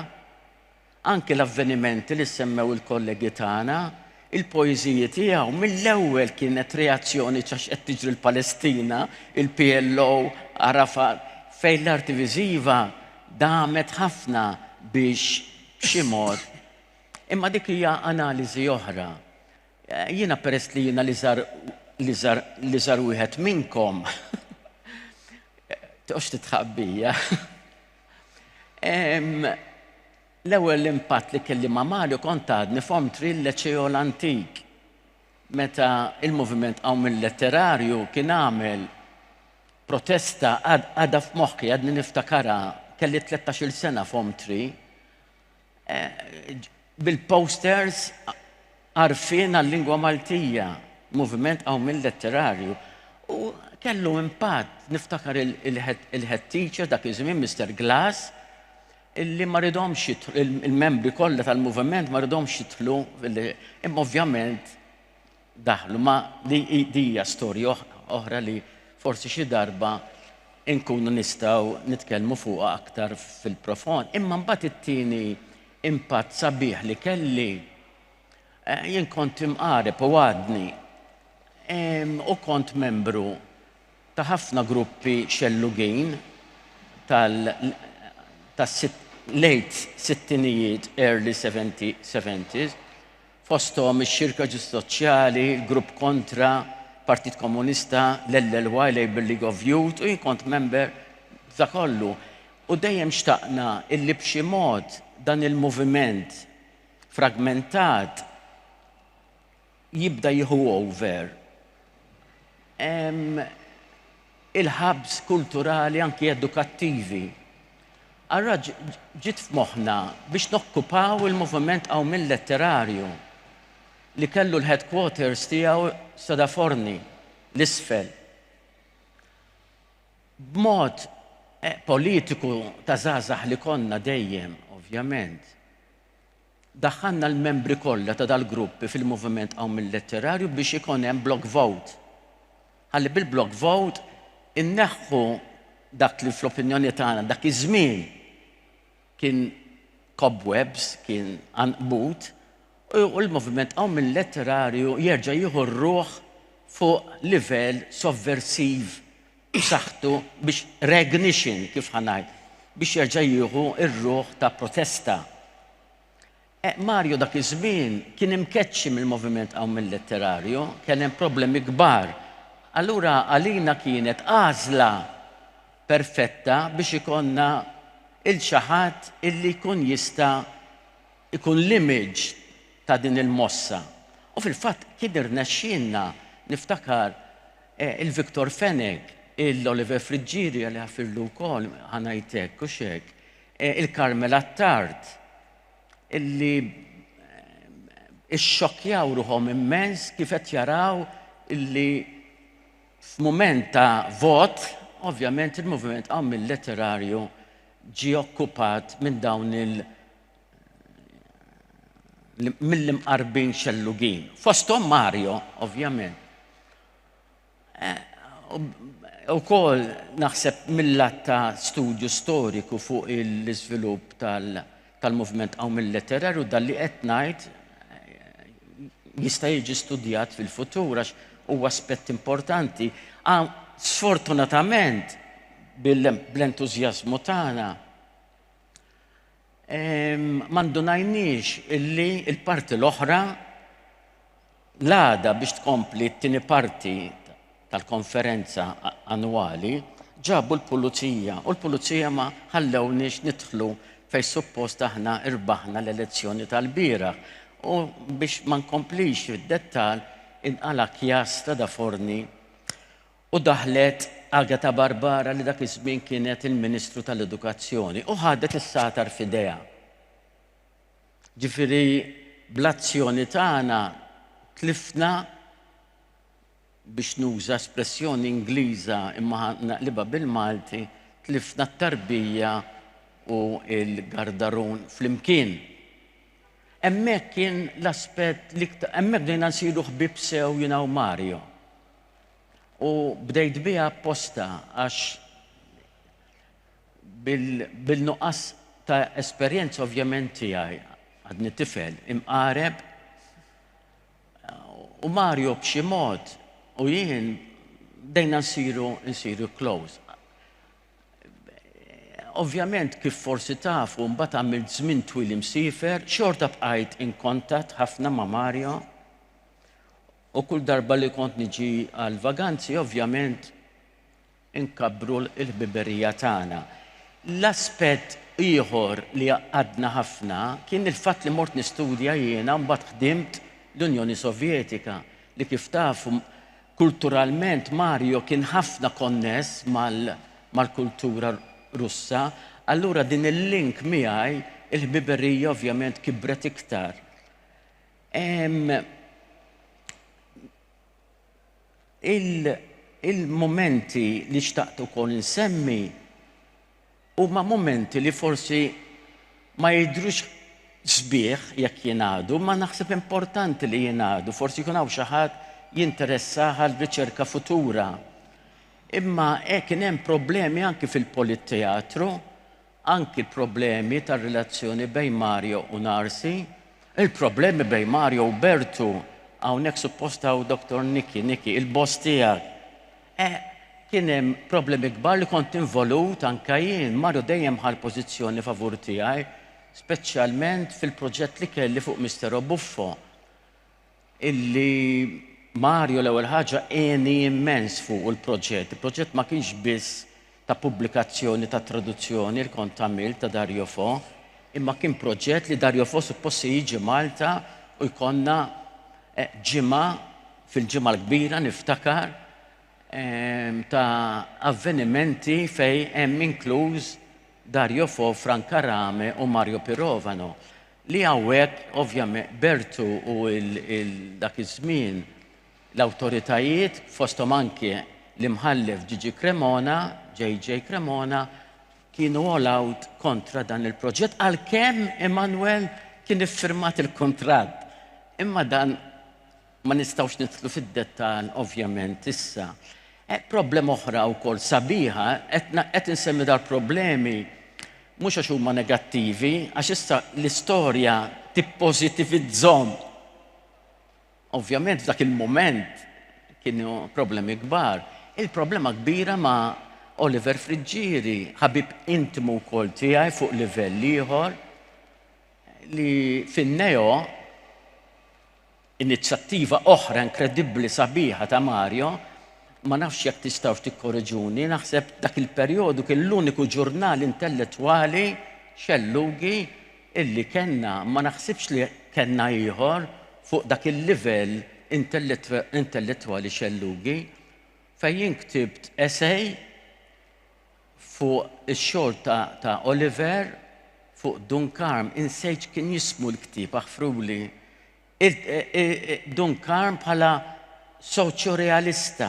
D: Anke l-avvenimenti li semmew il-kollegi tagħna, il-poeżiji tiegħu mill-ewwel kienet reazzjoni x'għax qed tiġri l-Palestina, il-PLO, Arafat, fejn l-arti viżiva damet ħafna biex b'xi mod. Imma dik hija analiżi oħra. Jiena peress li jiena l-iżgħar l-iżgħar l-iżgħar wieħed minnkom. Toqgħodx titħabbija. L-ewwel impatt li kelli ma' Mario kont għadni f'Om Tri l-Leċeo l-Antik meta il-moviment Qawm il-Letterarju kien għamel protesta għadha f'moħħi għadni niftakarha kelli 13-il sena f'Om Tri bil-posters Għarfien għal-Lingwa Maltija, Moviment Qawmien Letterarju. U kellu impatt, niftakar il-head teacher dak iż-żmien Mister Glass, illi ma ridhomx il-membri kollha tal-moviment ma ridhomx jidħlu imma ovvjament daħlu. Ma di hija storja oħra li forsi xi darba nkunu nistgħu nitkellmu fuqha aktar fil-profond. Imma mbagħad it-tieni impatt sabiħ li kelli eh, jien kont imqareb u għadni u kont membru ta' ħafna gruppi xellugin tal-late sittinijiet, early 70s, fosthom ix-Xirka Ġust Soċjali, il-Grupp Kontra, Partit Komunista, l-LLY, Labour League of Youth, u jien kont member ta' kollu. U dejjem xtaqna illi b'xi mod dan il-moviment fragmentat jibda jieħu over. Ehm, il-hubs kulturali anki edukattivi. Ara ġiet f'moħħna biex nokkupaw il-moviment qawmien letterarju li kellu l-headquarters tiegħu Sodaforni, l-isfel. B'mod eh, politiku ta' żgħażagħ li konna dejjem, ovvjament. Daħħalna l-membri kollha ta' dal-grupp fil-Moviment Qawm il-Letterarju biex ikun hemm block vote. Ħalli bil-block vote inneħħu dak li fl-opinjoni tagħna dak iż-żmien kien cobwebs, kien għanqbut, u l-Moviment Qawm il-Letterarju jerġa' jieħu r-ruħ fuq livell sovversiv b'saħħtu biex regnition, kif ħa ngħid, biex jerġa' jieħu r-ruħ ta' protesta. E, Mario dak iż-żmien kien imkeċċi mill-moviment hawn mill-letterarju, kien hemm problemi kbar. Allura għalina kienet għażla perfetta biex ikonna il xi ħadd illi jkun jista' ikun l-image ta' din il-mossa. U fil-fatt kien irnexxielna niftakar Il-Victor Fenech, il-Oliver Friggieri Alla jagħfirlu wkoll, ħa ngħid hekk, hux hekk? il-Carmel Attard, li ixxokkjaw ruħhom immens kif qed jaraw li f'mument ta' vot, ovvjament il-Moviment Qawmil Letterarju ġie okkupat minn dawn il- mill-imqarbin xellugin. Fosthom Mario, ovvjament. Eh, u kol naħseb mill-lat ta' studju storiku fuq l-izvilup tal-movement għaw mill-letterarju dal-li etnajt eh, jista' jiġi studjat fil-futur għax u aspett importanti. Ah, sfortunatament, bl-entuzjazmu tagħna ma ndunajniex illi l-parti l-oħra l-għada biex tkompli t-tieni parti tal-konferenza annwali ġabu l-pulizija u l-pulizija ma ħallewniex nidħlu fejn suppost aħna rbaħna l-elezzjoni tal-bieraħ u biex ma nkomplix fid-dettall inqala' kjass ta' daforni u daħlet Agatha Barbara li dak iż-żmien kienet il-Ministru tal-Edukazzjoni u ħadet is-sagħtar f'idejha. Ġifieri bl-azzjoni tagħna tlifna, biex nuża espressjoni Ingliża imma ħa naqlibha bil-Malti, tlifna t-tarbija u l-gardarun flimkien. Hemmhekk kien l-aspett l-iktar, hemmhekk bdejna nsiru ħbieb sew jiena u Mario. U bdejt biha apposta għax bil-nuqqas ta' esperjenza ovvjament tiegħi għadni tifel imqareb u Mario b'xi mod u jien bdejna nsiru nsiru close. Ovvjament kif forsi tafu mbagħad għamilt żmien twil imsiefer, xorta bqajt in kontatt ħafna ma' Mario. U kull darba li kont niġi għall-vaganzi ovvjament inkabbru l-ħbiberija tagħna. L-aspett ieħor li għaqqadna ħafna kien il-fatt li mort nistudja jiena u mbagħad ħdimt l-Unjoni Sovjetika, li kif tafu kulturalment Mario kien ħafna konness mal-kultura Russa, allura din il-link miegħi, il-ħbiberija ovvjament kibret iktar. Il-mumenti li xtaqt ukoll insemmi huma mumenti li forsi ma jidhrux sbieħ jekk jingħadu, imma naħseb importanti li jingħadu, forsi jkun hawn xi ħadd jinteressah għal riċerka futura. Imma hekk kien hemm problemi anki fil-Politteatru Anki problemi tar-relazzjoni bejn Mario u Narsi. Il-problemi bejn Mario u Bertu. Hawnhekk suppost hawn Doctor Nicky, Nicky, il-boss tiegħek. Eh, kien hemm problemi kbar li kont involut anke jien. Mario dejjem ħa l-pożizzjoni favur tiegħi, speċjalment fil-proġett li kelli fuq Mister Obuffo. illi Mario l-ewwel ħaġa għeni immens fuq il-proġett. Il-proġett ma kienx biss ta' pubblikazzjoni ta' traduzzjoni li kont għamilt ta' Dario Fo, imma kien proġett li Dario Fo suppost se jiġi Malta u jkollna eh, ġimgħa fil-ġimgħa l-kbira niftakar ehm, ta' avvenimenti fej hemm inkluż Dario Fo, Franca Rame u Mario Pirovano. Li hawnhekk ovvjament Bertu u dak iż-żmien l-awtoritajiet fosthom anke l-Imħallef Gigi Cremona, JJ Cremona, kienu all out kontra dan il-proġett għalkemm Emanuel kien iffirmat il-kuntratt. Imma dan Ma nistgħux nidħlu fid-dettall ovvjament issa. Problema oħra wkoll sabiħa, qed insemmi dal-problemi mhux għax huma negattivi, għax issa l-istorja tippożitivizzhom. Ovvjament f'dak il-mument kienu problemi kbar. Il-problema kbira ma' Oliver Friggieri, ħabib intimu wkoll tiegħi fuq livell ieħor, li fin-neo Inizjattiva oħra inkredibbli sabiħa ta' Mario, ma nafx jekk tistgħux tikkoreġuni, naħseb dak il-perjodu kien l-uniku ġurnal intellettwali xellugi illi kellna, ma naħsibx li kellna ieħor fuq dak il-livell intellettwali xellugi, fejn jien ktibt esej, Fuq ix-xogħol ta' Oliver fuq Dun Karm insejt x'kien jismu l-ktieb aħfruli. Dun Karm bħala soċjorealista,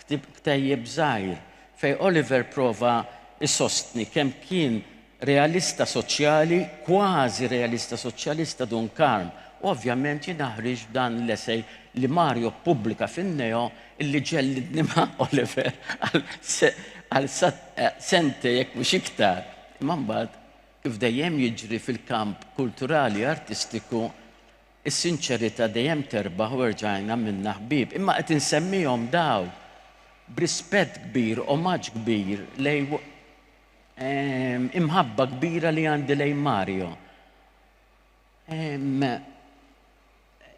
D: ktejjeb żgħir, fejn Oliver prova jsostni kemm kien realista soċjali, kważi realista soċjalista Dun Karm. U ovvjament jiena ħriġt b'dan l-essay li Mario ppubblika fin-Neo Illi ġellidnimha Oliver għal sente jekk mhux iktar. Imma mbagħad, kif dejjem jiġri fil-kamp kulturali artistiku, is-sinċerità dejjem terbaħ u erġajn għamilna ħbieb. Imma qed insemmihom dawn b'rispett kbir, omaġġ kbir lejn imħabba kbira li għandi lejn Mario.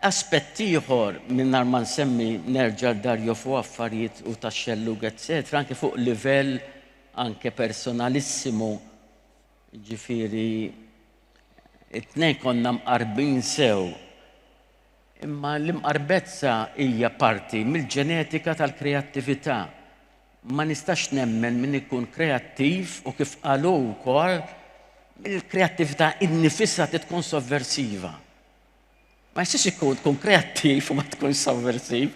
D: Aspett ieħor, mingħajr ma nsemmi nerġa' Dario Fo affarijiet u tax-xellug etcetera, anke fuq livell anke personalissimo, jiġifieri it-tnejn konna mqarbin sew. Imma l-imqarbezza hija parti mill-ġenetika tal-kreattività. Ma nistax nemmen min ikun kreattiv u kif qal hu wkoll, il-kreattività innifisha trid tkun sovversiva. Ma jistax ikun tkun kreattiv u ma tkun sovversiv.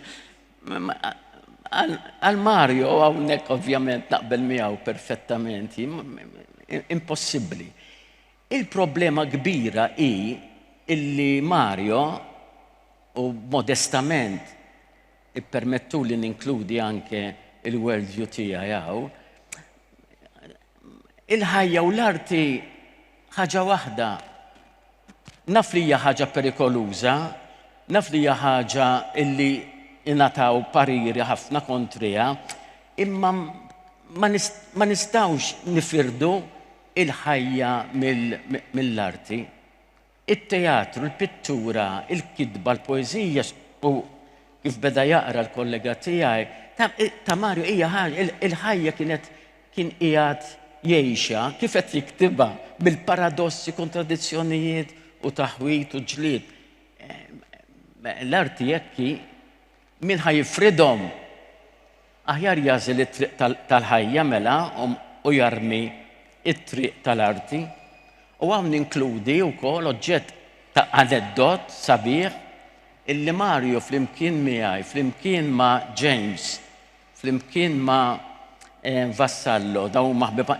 D: Għal Mario hawnhekk ovvjament naqbel miegħu perfettament, impossibbli. Il-problema kbira hi illi Mario u modestament ippermettuli ninkludi anke il-world view tiegħi hawn, Il-ħajja u l-arti ħaġa waħda. Naf li hija ħaġa perikoluża, naf li hija ħaġa illi ingħataw pariri ħafna kontriha, imma ma nistgħux nifirdu il-ħajja mill-arti. it-teatru, l-pittura, il-kitba, l-poeżija u kif beda jaqra l-kollega tiegħi, ta, ta Mario hija ħaġa, il-ħajja kienet kien qiegħed jgħixha kif qed jiktibha bil-paradossi, kontradizzjonijiet u taħwit u ġlied. L-arti hekk Min ħa jifridhom? Aħjar jagħżel it-triq tal-ħajja mela u jarmi t-triq tal-arti. U hawn ninkludi wkoll oġġett ta' aneddot sabiħ illi Mario flimkien miegħi, flimkien ma' James, flimkien ma' eh, Vassallo, dawn huma ħbiba,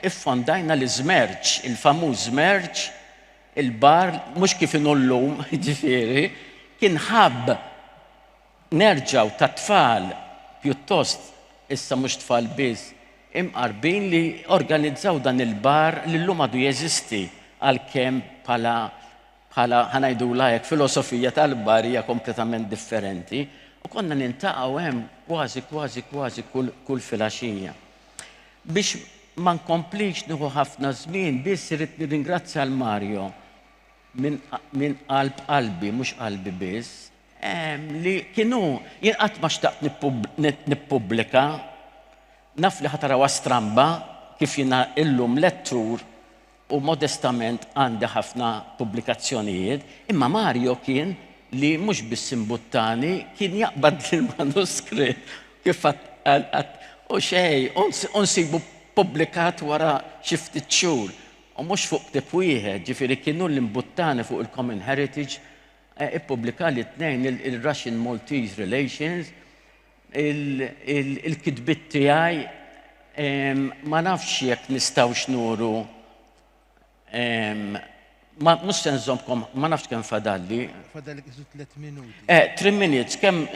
D: iffondajna l-iżmerġ, il-famuż żmerġ Il-bar, mhux kif inhu llum, jiġifieri, kien ħabb nerġgħu ta' tfal pjuttost, issa mhux tfal biss, imqarbin li organizzaw dan il-bar li llum għadu jeżisti għalkemm bħala bħala ħa ngħidulha hekk filosofija tal-bar hija kompletament differenti u konna niltaqgħu hemm kważi kważi kważi kull kull filgħaxija. Biex ma nkomplix nieħu ħafna żmien, biss irrid nirringrazzja lil Mario minn qalb qalbi, mhux qalbi biss, li kien hu. Jien qatt ma xtaqt nippubblika, naf li ħa tarawha stramba kif jiena illum lettur u modestament għandi ħafna pubblikazzjonijiet, imma Mario kien li mhux biss imbuttani, kien jaqbad l-manuskritt kif għad għad u xejn u nsibu ppubblikat wara xi ftit xhur, u mhux fuq ktieb wieħed, ġifieri kien hu li mbuttani fuq il-Common Heritage, ippubblikali tnejn il-Russian-Maltese Relations, il-kitbiet tiegħi ma nafx jekk nistgħux nuru ma mhux se nżommkom ma nafx kemm fadalli. Fadalli kisu 3
A: minuti. Eh, 3 minutes
D: kemm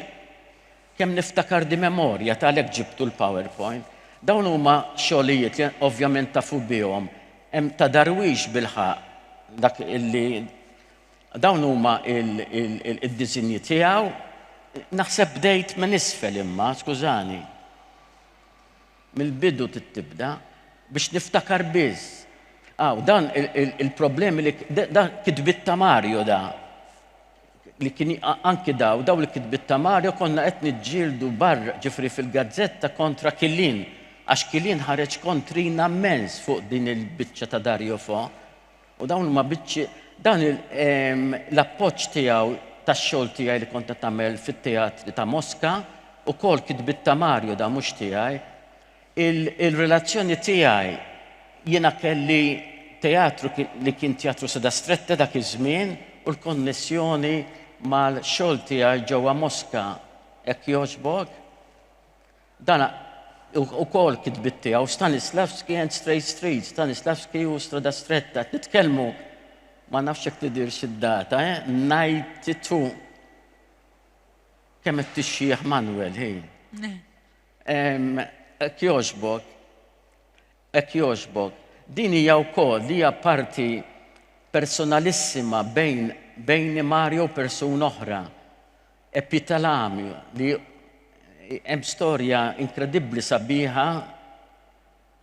D: kemm niftakar di memorja talek ġibtu l-PowerPoint. Dawn huma xogħlijiet li ovvjament tafu bihom. Hemm ta' darwix bil-ħaq dak illi Dawn huma d-disinji tiegħu. Naħseb bdejt minn isfel imma, skużani. Mill-bidu trid tibda biex niftakar biss. Aw, dan il-problemi li da kitbiet ta' Mario da. Li kien anki daw, daw li kitbiet ta' Mario konna qed niġġieldu barr ġifri fil-gazzetta kontra Kilin għax Kilin ħareġ kontrina mmens fuq din il-biċċa ta' Dario Fo. U dawn huma biċċi, dan l-appoġġ tiegħu tax-xogħol tiegħi li kont qed nagħmel fit-teatri ta' Moska, ukoll kitbiet ta' Mario dawn mhux tiegħi. Il-relazzjoni tiegħi jiena kelli teatru li kien Teatru Seda Strette dak iż-żmien u l-konnessjoni mal-xogħol tiegħi ġewwa Moska hekk jogħġbok. Dan ukoll kitbiet tiegħu, Stanislavski and Straight Street, Stanislavski u Strada Stretta. Qed nitkellmu ma nafx jekk tidirx id-data, eh? 92. Kemm qed tixjieħ Manuel, ħin. Ek jogħġbok, ek jogħġbok. Din hija wkoll li hija parti personalissima bejn bejni Mario u persuna oħra. Epitalami li hemm storja inkredibbli sabiħa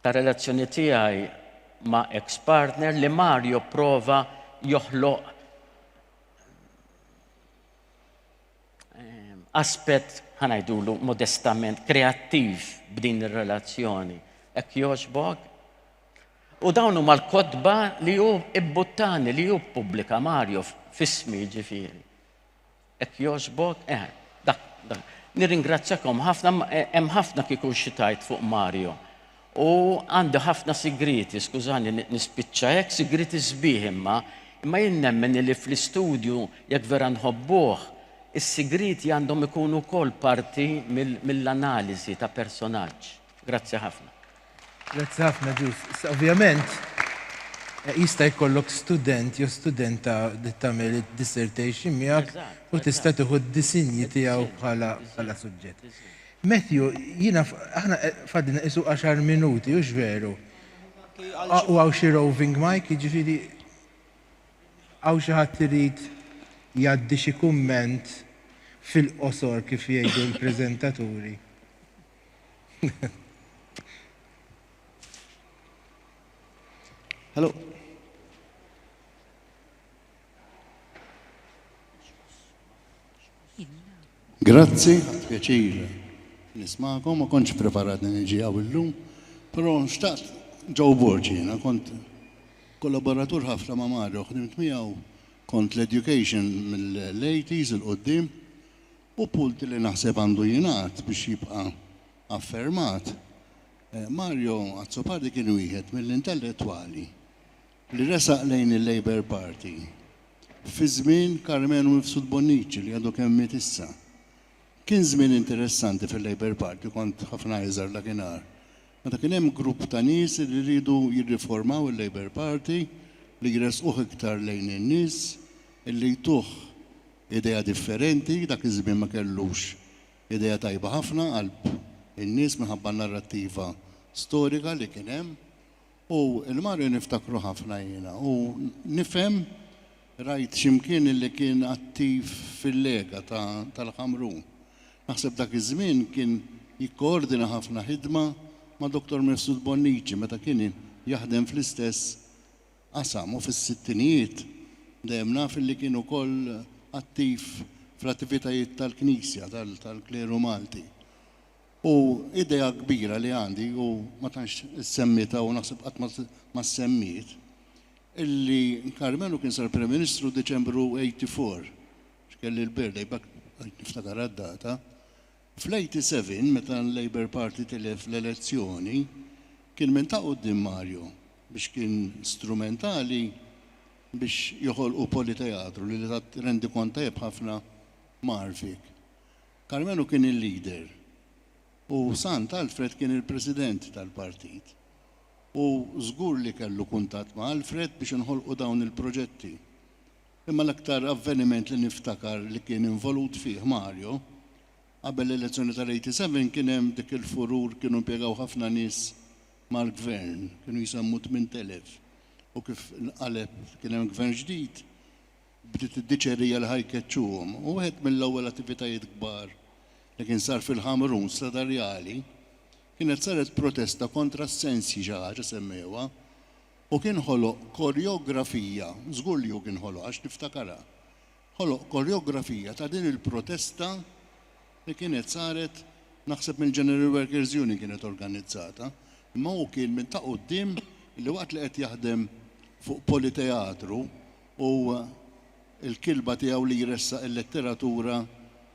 D: ta' relazzjoni tiegħi ma' ex partner li Mario prova joħloq aspett ħa ngħidulu modestament kreattiv b'din ir-relazzjoni. Hekk jogħġbok? U dawn huma l-kotba li hu ibbuttani li hu pubblika Mario f'ismi ġifieri. Hekk jogħġbok? Eħe, dak, dak. Nirringrazzjakom ħafna, hemm ħafna kieku xi tgħid fuq Mario. U għandi ħafna sigrieti, skużani nispiċċa hekk, sigrieti sbieħ imma, imma jien nemmen li fl-istudju jekk vera nħobbuh, is-sigrieti għandhom ikunu wkoll parti mill-analiżi ta' personaġġ. Grazzi ħafna. Grazzi
A: ħafna Ġus. Issa ovvjament jista' jkollok student jew studenta li tagħmel id-dissertation miegħek u tista' tieħu d-disinji tiegħu bħala bħala suġġett. Matthew, jiena aħna fadlina qisu għaxar minuti, hux veru? U għaw xi roving mic, jiġifieri għaw xi ħadd irid jgħaddi xi kumment fil-qosor kif jgħidu l-preżentaturi.
E: Hello. Grazzi, pjaċir nismakom, ma konċ preparat li niġi għaw illum, pero nxtaqt ġaw borġina, kont kollaboratur ħafna ma' Mario, ħdimt miegħu kont l-education mill-80s il-qoddim, U punt li naħseb għandu jingħad biex jibqa' affermat, Mario Azzopardi kien wieħed mill-intellettwali li resaq lejn il-Labour Party fi żmien Karmenu Mifsud Bonnici li għadu kemm miet issa. Kien żmien interessanti fil-Labour Party, kont ħafna iżgħar dakinhar, meta kien hemm grupp ta' nies li riedu jirriformaw il-Labour Party, li jressquh iktar lejn in-nies, li jtuh Idea differenti, dak iż-żmien ma kellux idea tajba ħafna qalb in-nies minħabba n-narrattiva storika li kien hemm. U l-Mario niftakru ħafna jiena u nifhem rajt xi mkien illi kien attiv fil-Lega ta' tal-Ħamrun. Naħseb dak iż-żmien kien jikkoordina ħafna ħidma ma' Dottor Mifsud Bonnici meta kien jaħdem fl-istess qasam u fis-sittinijiet dejjem naf illi kien ukoll attiv fl-attivitajiet tal-Knisja, tal-Kleru Malti. U idea kbira li għandi, u ma tantx issemmiet hawn u naħseb qatt ma ssemmiet, illi Karmenu kien sar Prim Ministru Diċembru 84, x'kelli l-birthday, b'hekk niftakarha d-data, Fl-87 meta l-Labour Party tilef l-elezzjoni kien minn ta' quddiem Mario biex kien strumentali biex joħolqu Politeatru li tat rendikont tajjeb ħafna magħrfik. Karmenu kien il-leader u Sant Alfred kien il-President tal-Partit u żgur li kellu kuntatt ma' Alfred biex inħolqu dawn il-proġetti. Imma l-aktar avveniment li niftakar li kien involut fih Mario, qabel l-elezzjoni tal-87 kien hemm dik il-furur kienu impjegaw ħafna nies mal-Gvern, kienu jsemmu 8,000 u kif inqaleb kien hemm Gvern ġdid, bdiet id-diċerija li ħa jkeċċuhom. U wieħed mill-ewwel attivitajiet kbar li kien sar fil-Ħamrun Stradarjali kienet saret protesta kontra s-sensji xi ħaġa semmewha Hu kien ħoloq korjografija, żgur li hu kien ħoloqha għax niftakarha, ħoloq korjografija ta' din il-protesta li kienet saret, naħseb mill-General Workers Union kienet organizzata, imma hu kien minn ta' quddiem li waqt li qed jaħdem fuq Politeatru u l-kilba tiegħu li jressaq il-letteratura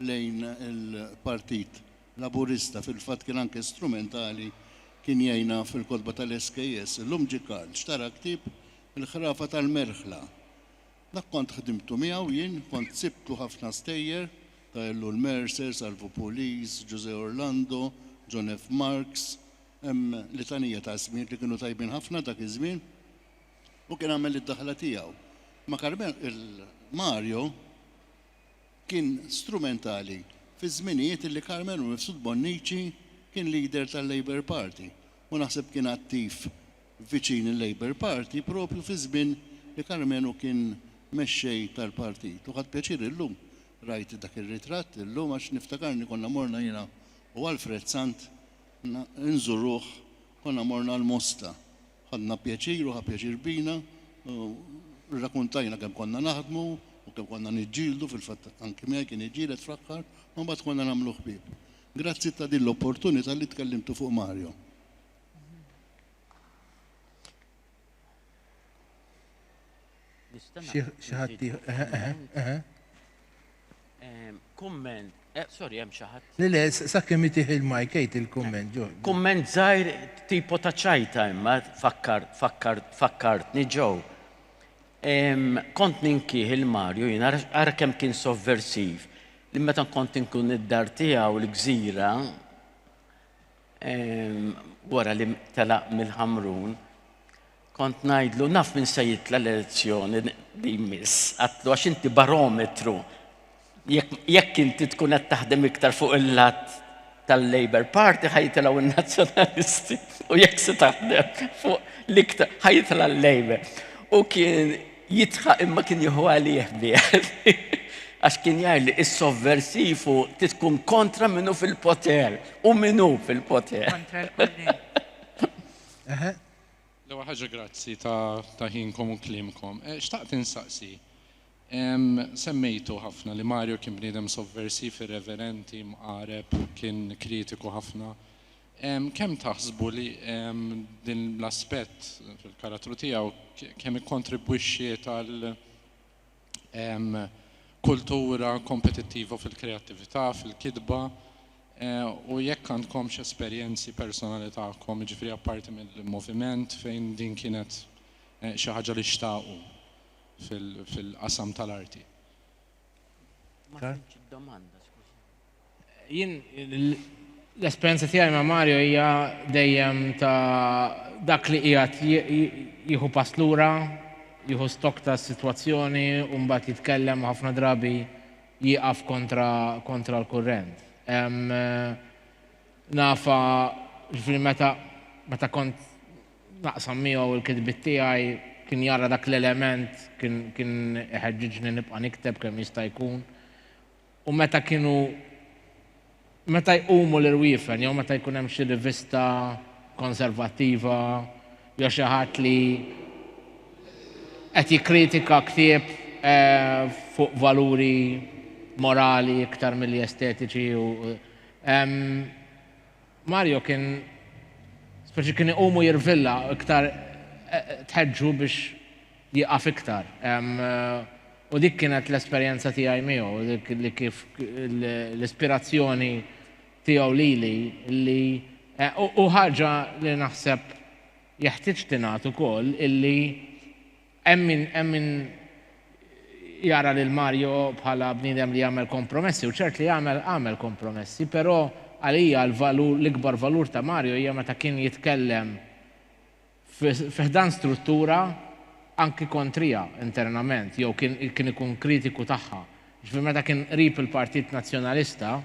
E: lejn il-Partit Laburista, fil-fatt kien anke strumentali, kien jgħinha fil-kotba tal-SKS. Illum ġie Karl, xtara ktieb Il-Ħrafa tal-Merħla. Dak kont ħdimtu miegħu jien, kont sibtlu ħafna stejjer, ta' Ellul Mercer, Salvu Pulis, Ġużè Orlando, John F. Marks, hemm litanija ta' ismijiet li kienu tajbin ħafna dak iż-żmien. Hu kien għamel id-daħla tiegħu. Ma' Karmela, il-Mario, kien strumentali fiż-żminijiet illi Karmenu Mifsud Bonnici kien leader tal-Labour Party u naħseb kien attiv viċin il-Labour Party proprju fiż-żmien li Karmenu kien mexxej tal-partit u ħadt pjaċir illum rajt dak ir-ritratt illum għax niftakarni konna morna jiena u Alfred Sant nżuruh konna morna l-Mosta Ħadna pjaċir u ħa pjaċir bina u rrakuntajna kemm konna naħdmu u kemm konna niġġieldu, fil-fatt anki miegħi kien iġġieled fl-aħħar, ma mbagħad konna nagħmlu ħbieb. Grazzi ta' din l-opportunità li tkellimtu fuq Mario.
A: Xi ħadd Kumment, eh,
D: sorry, hemm xi ħadd. Le le, sakemm itih
A: il-mike għid il-kumment ġo. Kumment żgħir
D: tipo ta' ċajta imma fakkar fakkar fakkartni ġew. Kont ninkih il-Marju jien ara kemm kien sovversiv li meta kont inkun id-dar tiegħu l-gżira wara li telaq mill-Ħamrun, kont ngħidlu naf min se jitla l-elezzjoni li jmiss, għatlu għax inti barometru jekk inti tkun qed taħdem iktar fuq il-lat tal-Labour Party ħajtilgħu n-Nazzjonalisti u jekk se taħdem fuq l-iktar ħajtla l-Labour. U kien Jidħaq imma kien jieħu għalih bliet għax kien jgħid li is-sovversiv u tkun kontra minnu fil-poter u minnu fil-poter.
C: Kontra l-kulli.
F: L-ewwel ħaġa grazzi ta' ħinkom u kliemkom. Xtaqt insaqsi, semmejtu ħafna li Mario kien bniedem sovversiv, irreverenti, mqareb, kien kritiku ħafna. Kemm taħsbu li din l-aspett fil-karattru tiegħu kemm ikkontribwixxiet għal kultura kompetittiva fil-kreattività, fil-kitba, u jekk għandkomx esperjenzi personali tagħkom, jiġifieri apparti mill-moviment, fejn din kienet xi ħaġa li xtaqu fil-qasam tal-arti? Ma fhimtx id-domanda,
B: skużani. Jien l-esperjenza tiegħi ma' Mario hija dejjem ta' dak li qiegħed jieħu pass lura, jieħu stock tas-sitwazzjoni u mbagħad jitkellem u ħafna drabi jieqaf kontra kontra l-kurrent. Nafha ġifieri meta meta kont naqsam miegħu l-kitbiet tiegħi kien jara dak l-element kien kien iħeġġiġni nibqa' nikteb kemm jista' jkun U meta kienu meta jqumu l-irwiefen jew meta jkun hemm xi rivista konservattiva jew xi ħadd li qed jikkritika ktieb fuq valuri morali iktar milli estetiċi u Mario kien speċi kien iqumu jirvilla iktar tħeġġu biex jieqaf iktar. U dik kienet l-esperjenza tiegħi miegħu, li kif l-ispirazzjoni tiegħu lili li u ħaġa li naħseb jeħtieġ tingħad ukoll illi hemm min hemm min jara lil Mario bħala bniedem li jagħmel kompromessi u ċert li għamel għamel kompromessi, però għalija l-valur l-ikbar valur ta' Mario hija meta kien jitkellem fi ħdan struttura anki kontrija internament jew kien kien ikun kritiku tagħha. Jiġifieri meta kien qrib il-Partit Nazzjonalista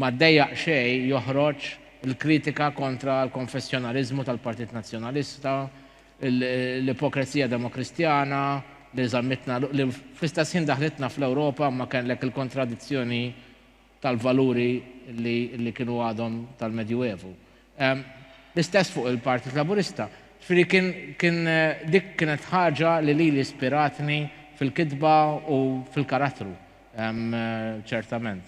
B: ma ddejjaq xejn joħroġ il-kritika kontra l-konfessjonaliżmu tal-Partit Nazzjonalista, l-ipokrezija demokristjana li żammitna li fl-istess ħin daħlitna fl-Ewropa imma kellek il-kontradizzjoni tal-valuri li kienu għadhom tal-Medjuevu. L-istess fuq il-Partit Laburista. Ġifieri kien dik kienet ħaġa li lili spiratni fil-kitba u fil-karattru ċertament.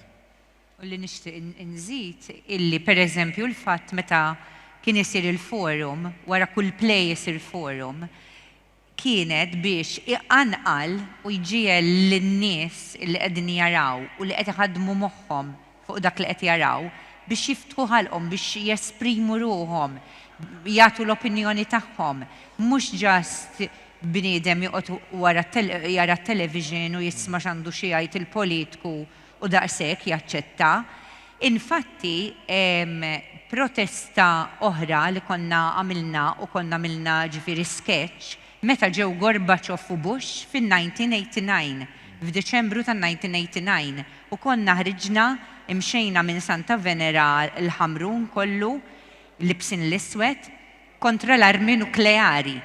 C: U li nixtieq inżid illi pereżempju l-fatt meta kien isir il-forum, wara kull play isir forum, kienet biex iqanqal u jġiegħel lin-nies li qegħdin jaraw u li qed iħaddmu moħħhom fuq dak li qed jaraw biex jiftħu ħalqhom, biex jesprimu ruħhom, jagħtu l-opinjoni tagħhom. Mhux just bniedem joqgħod wara jara t-television u jisma' x'għandu xi jgħid il-politku u daqshekk jaċċetta. Infatti, protesta oħra li konna għamilna u konna għamilna ġifieri sketch meta ġew Gorbaċov u Bush fin-1989, f'Diċembru tan-1989, u konna ħriġna, imxejna minn Santa Venera l-Ħamrun kollu, libsin l-iswed, kontra l-armi nukleari.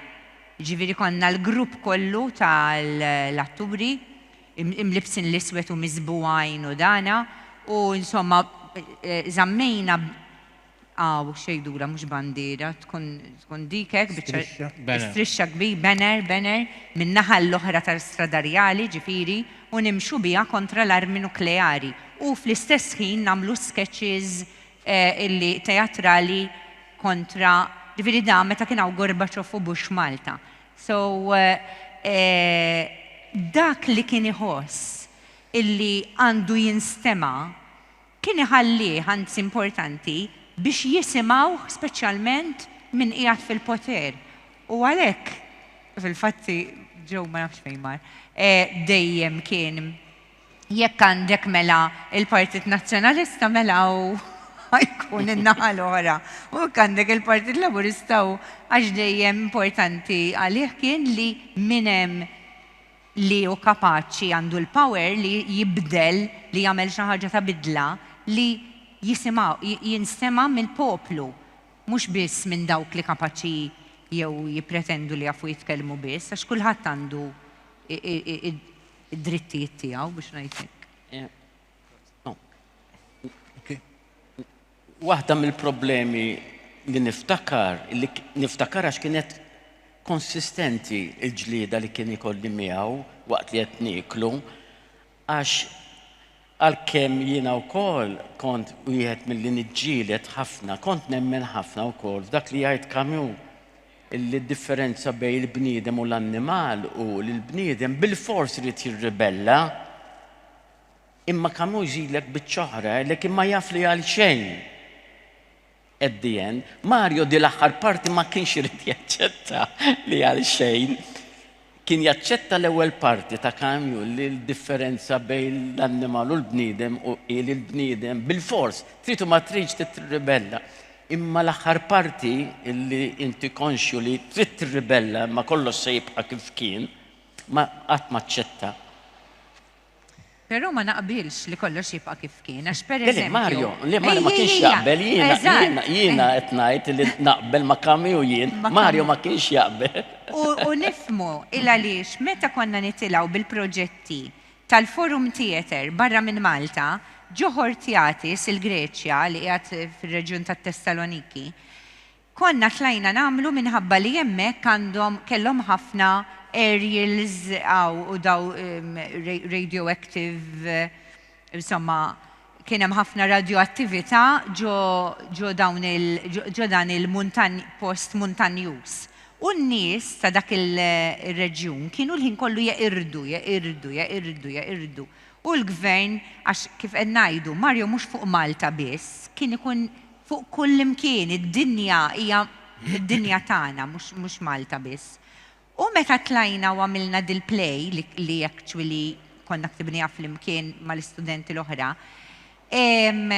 C: Ġifieri konna l-grupp kollu tal-atturi, imlibbsin l-iswed u miżbugħin u dana u insomma żammejna hawn xejdura mhux bandiera tkun tkun dik hekk biċċa Strixxa. Banner. strixxa kbir banner banner min-naħa l-oħra tal-Strada Rjali ġifieri u nimxu biha kontra l-armi nukleari u fl-istess ħin nagħmlu sketches illi teatrali kontra ġifieri dan meta kien hawn Gorbaċov u Bush Malta. So, dak li kien iħoss illi għandu jinstema' kien iħallih, anzi importanti, biex jisimgħuh speċjalment min qiegħed fil-poter. U għalhekk, fil-fatt, Joe ma nafx fejn mar, dejjem kien Jekk għandek mela il-Partit Nazzjonalista mela hu jkun in-naħa l-oħra. U jekk għandek il-Partit Laburista hu għax dejjem importanti għalih kien li min hemm li hu kapaċi għandu l-power li jibdel, li jagħmel xi ħaġa ta' bidla li jinstema' mill-poplu mhux biss minn dawk li kapaċi jew jippretendu li jafu jitkellmu biss għax kulħadd għandu id-drittijiet tiegħu biex ngħid hekk.
D: Waħda mill-problemi li niftakar, li niftakar għax kienet konsistenti il-ġlieda li kien ikolli miegħu waqt li qed nieklu, għax Għalkemm jiena wkoll kont wieħed milli niġġieled ħafna, kont nemmen ħafna wkoll f'dak li jgħid Camus, illi d-differenza bejn il-bniedem u l-annimal hu li l-bniedem bilfors irid jirribella. Imma Camus jżidlek biċċa oħra, għalhekk imma jaf li għalxejn. At the end, Mario di l-aħħar parti ma kienx irid jaċċetta li għal xejn kien jaċċetta l-ewwel parti ta' Camus li l-differenza bejn l-annimal u l-bniedem u hi li l-bniedem bilfors trid u ma tridx trid tirribella. Imma l-aħħar parti li inti konxju li trid tirribella imma kollox se jibqa' kif kien, ma qatt ma aċċetta.
C: Però ma naqbilx li kollox jibqa' kif kien, għax per Le, le, eżempju. Mario,
D: le,
C: Mario ma Ejja,
D: kienx ejja, jaqbel, jiena, eżatt. jiena, jiena qed ngħid li naqbel ma' Camus u jien, Ma' Mario Camus. ma kienx jaqbel. U, u nifhmu
C: il-għaliex meta konna nitilgħu bil-proġetti tal-Forum Theatre barra minn Malta, ġo Hortiatis, il-Greċja, li qiegħed fir-reġjun tat-Tessaloniki, Konna tlajna nagħmlu minħabba li hemmhekk għandhom kellhom ħafna aerials hawn u daw radioactive insomma kien hemm ħafna radjoattività ġo ġo dawn il ġo dan il-muntanj post muntanjuż. U n-nies ta' dak ir-reġjun kienu l-ħin kollu jeqirdu, jeqirdu, jeqirdu, jeqirdu. U l-Gvern, għax kif qed ngħidu, Mario mhux fuq Malta biss, kien ikun Fuq kullimkien, id-dinja hija d-dinja tagħna, mhux mhux Malta biss. U meta tlajna u għamilna dil-play, li li actually konna ktibniha flimkien mal-istudenti l-oħra, ehm,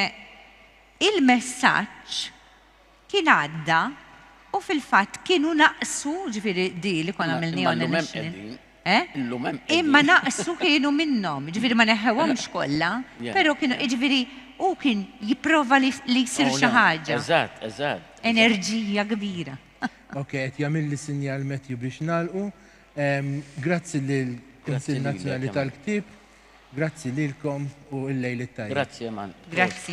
C: il-messaġġ kien għadda u fil-fatt kienu naqsu, ġifieri di li konna għamilniha on a national. Eh? Illum hemm qegħdin. Imma naqsu kienu minnhom, jiġifieri ma neħħewhomx kollha, Yeah, però kienu yeah. jiġifieri hu kien jipprova li li jsir Oh, xi no. ħaġa. Eżatt, eżatt.
D: Enerġija
C: kbira. Ok, qed
A: jagħmilli sinjal Matthew biex nagħlqu. Ehm, Grazzi lill-Kunsill lilek, Nazzjonali Emma. tal-Ktieb. Grazzi lilkom u il-lejl it-tajjeb. Grazzi
D: Eman.
A: Grazzi.